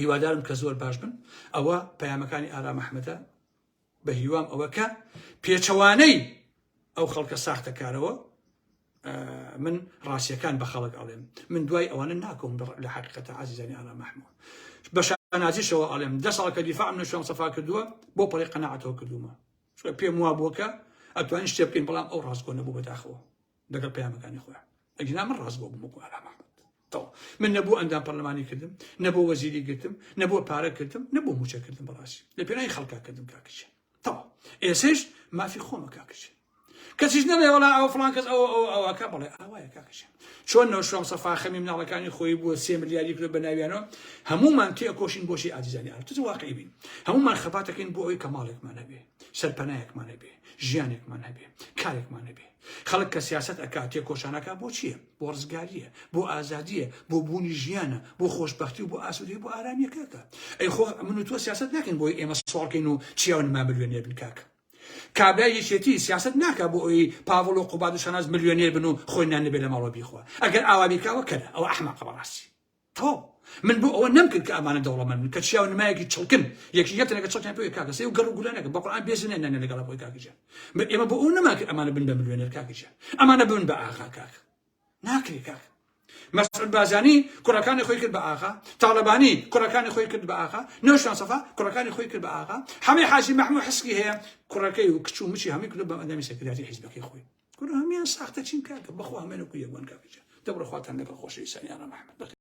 هیوادارم کە زۆر باش بن ئەوە پەیامەکانی ئارام ئەحمەدە بە هیوام ئەوە کە پێچەوانەی ئەو خەڵکە ساختەکارەوە من ڕاستیەکان بە خەڵک ئەڵێم من دوای ئەوانە ناکۆم لە حقیقەتە عزیزانی ئارام مححمود بە شانازیشەوە ئەڵێم دە ساڵکە دیفاع من شوێن سەفا کردووە بۆ پەڵی قەنەعاتەوە کردومە پێم وا بووکە ئەتوانین شتێ بکەین بەڵام ئەو ڕاستگۆ نەبوو بەداخەوە لەگەڵ پەیامەکانی خۆیان ئەگینا من ڕاست بۆ بمەکو ئارام ئەحمەد تەوا من نەبوو ئەندام پەرلەمانی کردم نەبوو وەزیری گرتم نەبوو پارە کردم نەبوو موچە کردم بەڕاستی لە پێناوی خەڵکا کردم کاکچە تەوا ئێسش مافی خۆمە کاکچ کەسیش نەبێ وڵا ئەو فلان کەس ئەو ئەو ئەوەکە بڵێ ئاوایە کاکچ چۆن نەوشام سەفا خەمی مناڵەکانی خۆی بووە سێ ملیاری کرد بە ناویانەوە هەمومان تێ کۆشین بۆشی ئازیزانی ئارتز واقعی بین هەمومان خەباتەکەین بۆ ئەوی کە ماڵێکمان هەبێ سەرپەنایەکمان هەبێ ژیانێکمان هەبێ کارێکمان هەبێ خەڵک کە سیاسەت ئەکا تێکۆشانەکە بۆ چییە بۆ ڕزگاریە بۆ ئازادیە بۆ بوونی ژیانە بۆ خۆشببختی و بۆ ئاسوودی بۆ ئارامیەکەکە ئەی خۆ من تۆ سیاست ناکەین بۆی ئێمە سوڵکەین و چیاونما ملیۆنێ بن کاکە کابرای یەکێتی سیاست ناکە بۆ ئەوی پاڤڵ و قوباد و شاناز ملیۆنێر بن و خۆی نان لەبێ لە ماڵەوە بیخوا ئەگەر ئاوابیکاوە کەرە ئەو ئەحمەقە بەڕاستی تۆ من بۆ ئەوە نەمکرد کە ئەمانە دەوڵەمەند بن کە چیاو نمایەکی چڵکن یەکی یەکتر لەگە چڵکیان پێوەی کاکە سەی و گەڕ و گولانەکە بە قورئان بێزی نێ نانێ لەگەڵ خۆی کاکە جان من ئێمە بۆ ئەو نەما کرد ئەمانە بن بە ملیۆنێر کاکە جان ئەمانە بن بە ئاغا کاکە ناکرێ کاکە مەسعود بازانی کوڕەکانی خۆی کرد بە ئاغا تاڵەبانی کوڕەکانی خۆی کرد بە ئاغا نەوشان سەفا کوڕەکانی خۆی کرد بە ئاغا حەمەی حاجی محمود حسکی هەیە کوڕەکەی و کچ و مچی هەمووی کرد بە ئەندامی سەکرەداتی حیزبەکەی خۆی کوڕ هەمیان ساختە چین کاکە بەخۆ هەمێنە کو یەکوان کاکە جان دەبڕە خواتان لەگەڵ خۆشەویستان یارە محمد